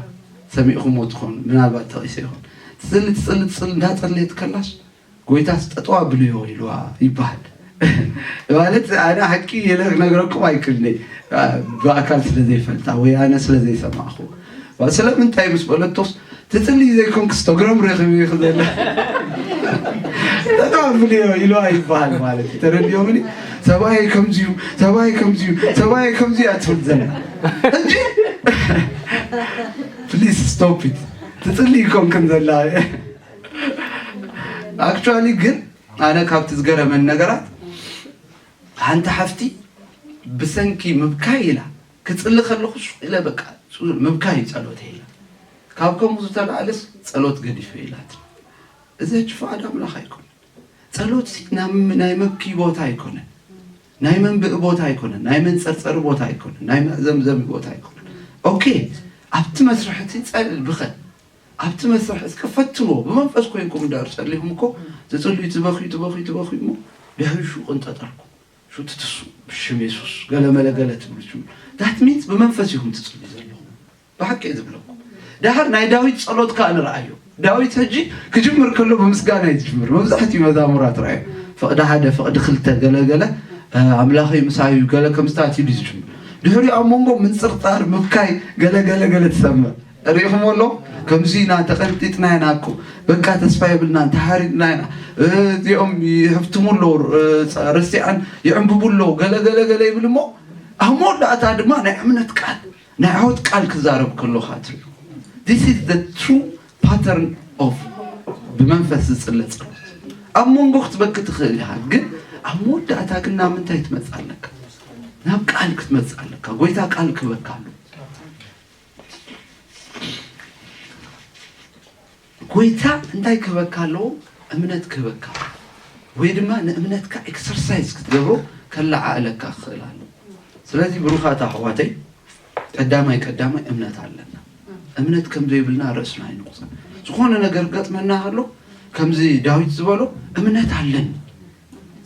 ሰሚዕኹምዎ ትኾኑ ምናልባት ጠቒሰ ይኾን ትጽሊ ትጽሊ ትጽሊ እንዳ ጸለየት ከላስ ጎይታስ ጠጠው ኣብልዮ ኢልዋ ይብሃል ማለት ኣነ ሓቂ ኢለ ክነግረኩም ኣይክእልን'የ ብኣካል ስለ ዘይፈልጣ ወይ ኣነ ስለ ዘይሰማዕኩ ስለምንታይ ምስ በለቶስ ትጽሊ ዘይኮንክስ ተግረምሩ ይኽብዩ ክዘለ ጠጠው ኣብልዮ ኢልዋ ይብሃል ማለት እዩ ተረዲኦምኒ ሰብኣየ ከምዚዩ ሰብኣየ ከምዚዩ ሰብኣየ ከምዚዩ እያ ትብል ዘላ ፕሊስ ስቶፕ ኢት ትፅሊ ይኮንክን ዘላ ኣክቹዋሊ ግን ኣነ ካብቲ ዝገረመን ነገራት ሓንቲ ሓፍቲ ብሰንኪ ምብካይ ኢላ ክፅሊ ከለኹ ሱቅ ኢለ በቃ ምብካይ እዩ ፀሎት ኢላ ካብ ከምኡ ዝተላዕለስ ፀሎት ገዲፈ ኢላት እዘች ፍቃድ ኣምላኽ ኣይኮነ ፀሎት ናይ መብኪ ቦታ ኣይኮነ ናይ መንብዒ ቦታ ኣይኮነን፣ ናይ መንጸርጸሪ ቦታ ኣይኮነን፣ ናይ መዕዘምዘሚ ቦታ ኣይኮነን። ኦኬ ኣብቲ መስርሕ እቲ ጸል ብኸ ኣብቲ መስርሕ እስከ ፈትንዎ ብመንፈስ ኮይንኩም እንዳር ጸሊኹም እኮ ትጽልዩ ትበኽዩ ትበኽዩ ትበኽዩ እሞ ድሕሪ ሹ ቅንጠጠርኩ ሹ ትትሱ ብሽም የሱስ ገለመለ ገለ ትብሉ ትብሉ ዳት ሚንስ ብመንፈስ ኢኹም ትጽልዩ ዘለኹም ብሓቂ እየ ዝብለኩም ደሓር ናይ ዳዊት ጸሎት ከኣ ንርኣዮ ዳዊት ሕጂ ክጅምር ከሎ ብምስጋና እዩ ዝጅምር መብዛሕትኡ መዛሙራት ርኣዮ ፍቕዲ ሓደ ፍቕዲ ክልተ ገለገለ ኣምላኸይ ምሳዩ ገለ ከምስታት ኢሉ ዝጅምር ድሕሪኡ ኣብ መንጎ ምንጽርጻር ምብካይ ገለገለ ገለ ትሰምዕ ሪኢኹም ኣሎ ከምዚ ኢና ተቐንጢጥና ኢና እኮ በቃ ተስፋ የብልናን ተሃሪድና ኢና እዚኦም ይሕፍትሙ ኣለዉ ረሲዐን ይዕንብቡ ኣለዉ ገለገለገለ ይብል እሞ ኣብ መወዳእታ ድማ ናይ እምነት ቃል ናይ ዓወት ቃል ክዛረብ ከሎ ከኣ ትሪኡ this is the true pattern of ብመንፈስ ዝጽለ ጸሎት ኣብ መንጎ ክትበኪ ትኽእል ኢኻ ግን ኣብ መወዳእታ ግን ናብ ምንታይ ትመጽእ ኣለካ ናብ ቃል ክትመጽእ ኣለካ ጎይታ ቃል ክበካ ኣሎ ጎይታ እንታይ ክህበካ ኣለዎ እምነት ክህበካ ወይ ድማ ንእምነትካ ኤክሰርሳይዝ ክትገብሮ ከለዓዕለካ ክኽእል ኣለዎ ስለዚ ብሩኻት ኣሕዋተይ ቀዳማይ ቀዳማይ እምነት ኣለና እምነት ከም ዘይብልና ርእስና ኣይንቑፀር ዝኾነ ነገር ገጥመና ከሎ ከምዚ ዳዊት ዝበሎ እምነት ኣለኒ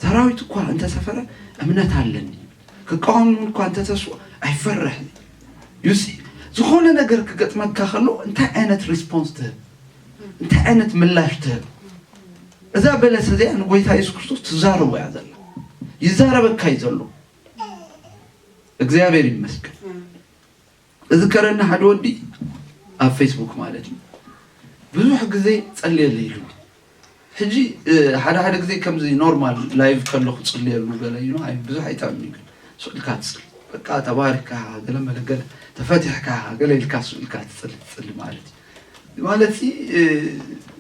ሰራዊት እኳ እንተ ሰፈረ እምነት ኣለኒ ክቃወምኒ እኳ እንተ ተስኡ ኣይፈርሕን ዩሲ ዝኾነ ነገር ክገጥመካ ከሎ እንታይ ዓይነት ሪስፖንስ ትህብ እንታይ ዓይነት ምላሽ ትህብ እዛ በለስ እዚኣ ንጎይታ የሱስ ክርስቶስ ትዛረቦ እያ ዘላ ይዛረበካ እዩ ዘሎ እግዚኣብሔር ይመስገን እዝከረኒ ሓደ ወዲ ኣብ ፌስቡክ ማለት እዩ ብዙሕ ግዜ ጸልየለይ ኢሉኒ ሕጂ ሓደ ሓደ ግዜ ከምዚ ኖርማል ላይቭ ከለኹ ጽልየሉ ገለ ዩ ኣይ ብዙሕ ኣይጠዕምን ግን ስእልካ ትጽሊ በቃ ተባሪክካ ገለ መለ ገለ ተፈቲሕካ ገለ ኢልካ ስእልካ ትጽሊ ትጽሊ ማለት እዩ ማለት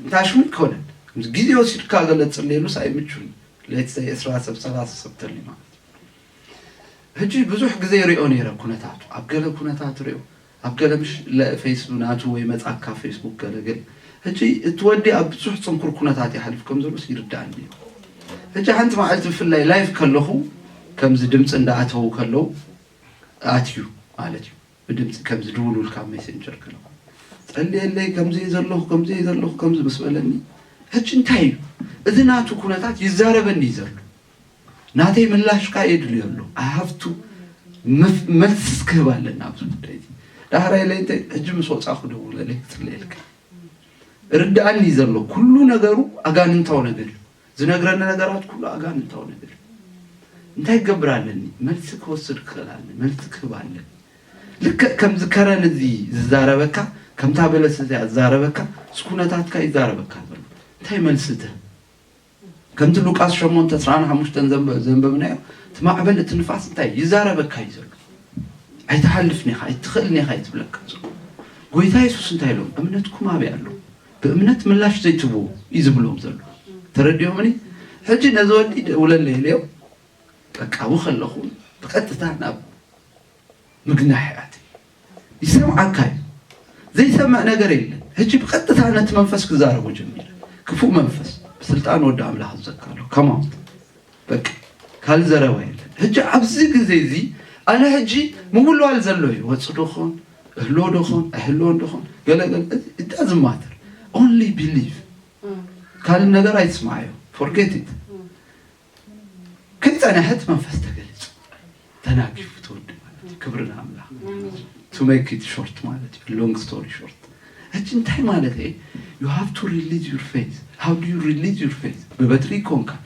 እንታይ ሽሙ ይኮነን ግዜ ወሲድካ ገለ ትጽልየሉስ ኣይምቹን ለይት ዕስራ ሰብ ሰላሳ ሰብ ተሊ ማለት ሕጂ ብዙሕ ግዜ ይሪኦ ነይረ ኩነታቱ ኣብ ገለ ኩነታት ሪኦ ኣብ ገለ ምሽ ለ ፌስቡ ናቱ ወይ መጻካ ፌስቡክ ገለ ገለ ሕጂ እቲ ወዲ ኣብ ብዙሕ ጽንኩር ኩነታት ይሓልፍ ከም ዘሎስ ይርዳኣኒ ነይሩ ሕጂ ሓንቲ መዓልቲ ብፍላይ ላይፍ ከለኹ ከምዚ ድምጺ እንዳ ኣተዉ ከለዉ ኣትዩ ማለት እዩ ብድምጺ ከምዚ ድውሉልካ ሜሴንጀር ገለ ኮ ጸልየለይ ከምዚ ዘለኹ ከምዚ ዘለኹ ከምዚ ምስ በለኒ ሕጂ እንታይ እዩ እዚ ናቱ ኩነታት ይዛረበኒ እዩ ዘሎ ናተይ ምላሽ ከኣ የድልዮ ኣሎ i have to መፍ መልስ ክህብ ኣለኒ ኣብዚ ጉዳይ እዚ ዳሕራይ ለይተ ሕጂ ምስ ወጻኹ ደውለለይ ክጽልየልካ ርድኣኒ እዩ ዘሎ ኩሉ ነገሩ ኣጋንንታዊ ነገር እዩ ዝነግረኒ ነገራት ኩሉ ኣጋንንታዊ ነገር እዩ እንታይ ክገብር ኣለኒ መልሲ ክወስድ ክኽእል ኣለ መልሲ ክህብ ኣለኒ ልክዕ ከምዚ ከረን እዚ ዝዛረበካ ከምታ በለስ እዚኣ ዝዛረበካ ስኩነታትካ ይዛረበካ ዘሎ እንታይ መልሲ ትህብ ከምቲ ሉቃስ ሸሞንተ ዕስራን ሓሙሽተን ዘንበብናዮ እቲ ማዕበል እቲ ንፋስ እንታይ ይዛረበካ እዩ ዘሎ ኣይትሓልፍን ኢኻ ኣይትኽእልን ኢኻ ይትብለካ ዘሎ ጎይታ የሱስ እንታይ ኢሎም እምነትኩም ኣበይ ኣሎ ብእምነት ምላሽ ዘይትብዎ እዩ ዝብሎም ዘሎ ተረዲኦምኒ ሕጂ ነዚ ወዲ ደውለለይ ኢለዮ በቃ ውኸለኹ ብቀጥታ ናብ ምግናሕ እያ ይሰምዓካ እዩ፣ ዘይሰምዕ ነገር የለን። ሕጂ ብቐጥታ ነቲ መንፈስ ክዛረቦ ጀሚረ። ክፉእ መንፈስ ብስልጣን ወዲ ኣምላኽ ዝዘካ ኣሎ ከማውት በቃ ካልእ ዘረባ የለን። ሕጂ ኣብዚ ግዜ እዚ ኣነ ሕጂ ምውልዋል ዘሎ እዩ ወጽእ ዶኾን እህልዎ ዶኾን ኣይህልዎን ዶኾን ገለገለ እዳ ዝማተር ኦንሊ ቢሊቭ ካልእ ነገር ኣይትስማዓዮ ፎርጌት ኢት ክጸነሐት መንፈስ ተገልጽ ተናግሹ ትወድ ማለት እዩ ክብሪ ንኣምላኽ ቱ ሜክ ኢት ሾርት ማለት እዩ ሎንግ ስቶሪ ሾርት ሕጂ እንታይ ማለት እየ ዩ ሃቭ ቱ ሪሊዝ ዩር ፌዝ ሃው ዱ ዩ ሪሊዝ ዩር ፌዝ ብበትሪ ይኮንካን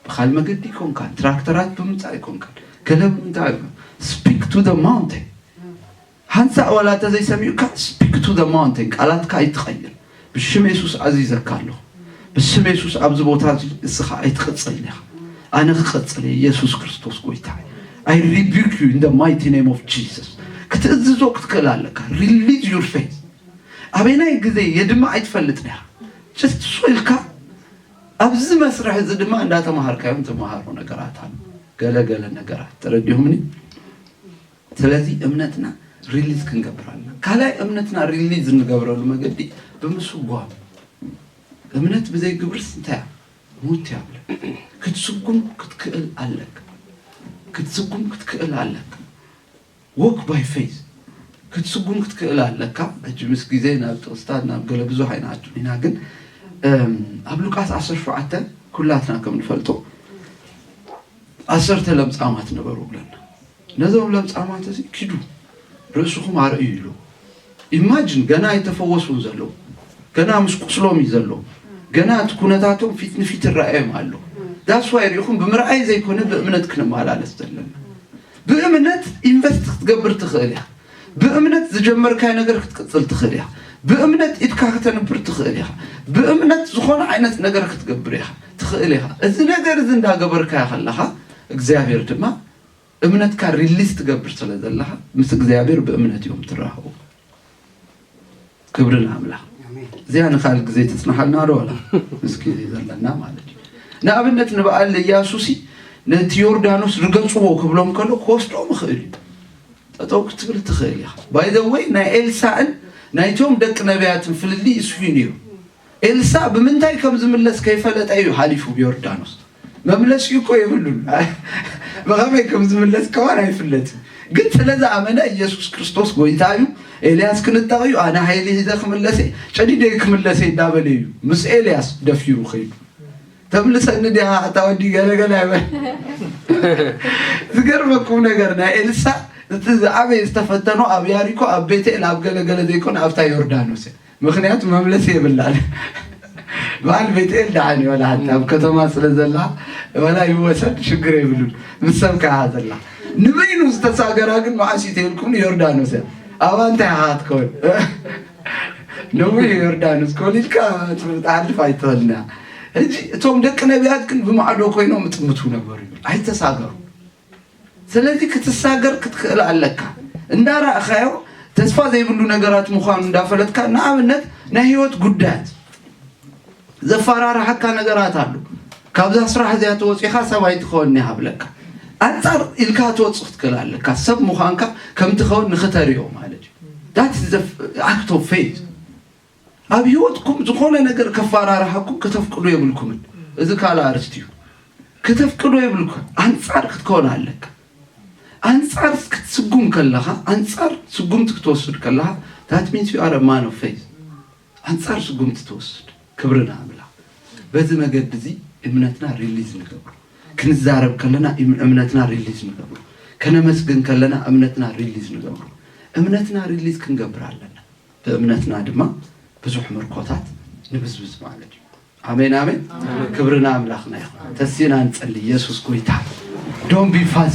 ብካል መገዲ ይኮንካን ትራክተራት ብምምፃእ ይኮንካን ገለ ብምንታይ ስፒክ ቱ ደ ማውንቴን ሓንሳእ ዋላ እተዘይሰሚዑካ ስፒክ ቱ ዘ ማውንቴን ቃላትካ ኣይትቐይር ብሽም የሱስ ኣዚዘካ ኣለኹ ብስም የሱስ ኣብዚ ቦታ እዚ እስኻ ኣይትቕጽልን ኢኻ ኣነ ክቐጽል እየ የሱስ ክርስቶስ ጎይታ እዩ ኣይ ሪቢክ ዩ ኢን ዘ ማይቲ ኔም ኦፍ ጂሰስ ክትእዝዞ ክትክእል ኣለካ ሪሊዝ ዩር ፌዝ ኣበናይ ግዜ እየ ድማ ኣይትፈልጥን ኢኻ ጭስቲ ሶኢልካ ኣብዚ መስርሕ እዚ ድማ እንዳተማሃርካዮም ትመሃሮ ነገራት ኣሎ ገለገለ ነገራት ተረዲሁምኒ ስለዚ እምነትና ሪሊዝ ክንገብር ኣለና። ካልኣይ እምነትና ሪሊዝ እንገብረሉ መገዲ ብምስጓም እምነት ብዘይ ግብርስ እንታይ ሙት እያ ብለ ክትስጉም ክትክእል ኣለክ ክትስጉም ክትክእል ኣለክ ወክ ባይ ፌዝ ክትስጉም ክትክእል ኣለካ ሕጂ ምስ ግዜ ናብ ጥቕስታት ናብ ገለ ብዙሕ ኣይንኣቱ ኢና ግን ኣብ ሉቃስ 17 ኩላትና ከም ንፈልጦ ዓሰርተ ለምጻማት ነበሩ ብለና ነዞም ለምጻማት እዚ ኪዱ ርእስኹም ኣርእዩ ኢሉ ኢማጅን ገና ኣይተፈወሱን ዘለዉ ገና ምስ ቁስሎም እዩ ዘለዉ ገና እቲ ኩነታቶም ፊት ንፊት ይረኣዮም ኣሎ ዳስዋይ ሪኢኹም ብምርኣይ ዘይኮነ ብእምነት ክንመላለስ ዘለና ብእምነት ኢንቨስት ክትገብር ትኽእል እያ ብእምነት ዝጀመርካዮ ነገር ክትቅፅል ትኽእል እያ ብእምነት ኢድካ ከተንብር ትኽእል ኢኻ ብእምነት ዝኾነ ዓይነት ነገር ክትገብር ኢኻ ትኽእል ኢኻ እዚ ነገር እዚ እንዳገበርካዮ ከለኻ እግዚኣብሔር ድማ እምነትካ ሪሊስ ትገብር ስለ ዘለኻ ምስ እግዚኣብሔር ብእምነት ኢኹም ትራኸቡ። ክብሪ ንኣምላኽ። እዚኣ ንካል ግዜ ትጽናሓልና ዶ ዋላ ምስ ግዜ ዘለና ማለት እዩ። ንኣብነት ንበዓል ኢያሱሲ ነቲ ዮርዳኖስ ርገጽዎ ክብሎም ከሎ ክወስዶም ይኽእል እዩ። ጠጠው ክትብል ትኽእል ኢኻ። ባይ ዘ ወይ ናይ ኤልሳእን ናይቶም ደቂ ነቢያትን ፍልልይ እሱ እዩ ነይሩ። ኤልሳእ ብምንታይ ከም ዝምለስ ከይፈለጠ እዩ ሓሊፉ ብዮርዳኖስ። መምለሲኡ እኮ የብሉን፣ ብኸመይ ከም ዝምለስ ከማን ኣይፍለጥን። ግን ስለ ዝኣመነ ኢየሱስ ክርስቶስ ጎይታ እዩ፣ ኤልያስ ክንጠቕ እዩ፣ ኣነ ሓይሊ ሒዘ ክምለስ እየ፣ ጨዲደ እዩ ክምለስ እየ እንዳበለ እዩ ምስ ኤልያስ ደፊሩ ከይዱ። ተምልሰኒ ዲኻ ኣታ ወዲ ገለ ገለ ኣይበል። ዝገርመኩም ነገር ናይ ኤልሳእ እቲ ዝዓበየ ዝተፈተኖ ኣብ ያሪኮ፣ ኣብ ቤቴል፣ ኣብ ገለ ገለ ዘይኮነ ኣብታ ዮርዳኖስ እያ። ምክንያቱ መምለሲ የብላን በዓል ቤትኤል ደሓን እዩ ዋላ ሓንቲ ኣብ ከተማ ስለ ዘላ ዋላ ይወሰድ ሽግር የብሉን ምስ ሰብ ከ እያ ዘላ ንበይኑ ዝተሳገራ ግን መዓስ እዩ ተይልኩም ዮርዳኖስ እያ ኣብኣ እንታይ ኢኻ ክትከውን ነዊሕ እዩ ዮርዳኖስ ኮሊልካ ትሓልፍ ኣይትኽእልን እያ ሕጂ እቶም ደቂ ነቢያት ግን ብማዕዶ ኮይኖም ይጥምቱ ነበሩ ይብል ኣይተሳገሩ ስለዚ ክትሳገር ክትክእል ኣለካ። እንዳራእኻዮ ተስፋ ዘይብሉ ነገራት ምዃኑ እንዳፈለጥካ ንኣብነት ናይ ህይወት ጉዳያት ዘፋራርሓካ ነገራት ኣሉ ካብዛ ስራሕ እዚኣ ተወፂኻ ሰብ ኣይትኸውን እያ ሃብለካ ኣንጻር ኢልካ ትወፅእ ክትክእል ኣለካ ሰብ ምዃንካ ከምትኸውን ንክተሪኦ ማለት እዩ ዳት ኣክቶ ፌዝ ኣብ ህይወትኩም ዝኾነ ነገር ከፋራርሓኩም ከተፍቅዱ የብልኩምን። እዚ ካልእ ኣርስቲ እዩ። ከተፍቅዶ የብልኩ ኣንጻር ክትከውን ኣለካ። ኣንጻር ክትስጉም ከለኻ ኣንጻር ስጉምቲ ክትወስድ ከለኻ ታት ሚንስ ዩ ኣረ ማን ኦፍ ፌዝ ኣንጻር ስጉምቲ ትወስድ ክብሪ ንኣምላኽ። በዚ መገዲ እዚ እምነትና ሪሊዝ ንገብሮ ክንዛረብ ከለና እምነትና ሪሊዝ ንገብሮ ከነመስግን ከለና እምነትና ሪሊዝ ንገብሮ እምነትና ሪሊዝ ክንገብር ኣለና። ብእምነትና ድማ ብዙሕ ምርኮታት ንብዝብዝ ማለት እዩ። ኣሜን ኣሜን። ክብርና ኣምላኽና ይኹን። ተሲና ንጸሊ ኢየሱስ ጎይታ ዶን ቢ ፋዚ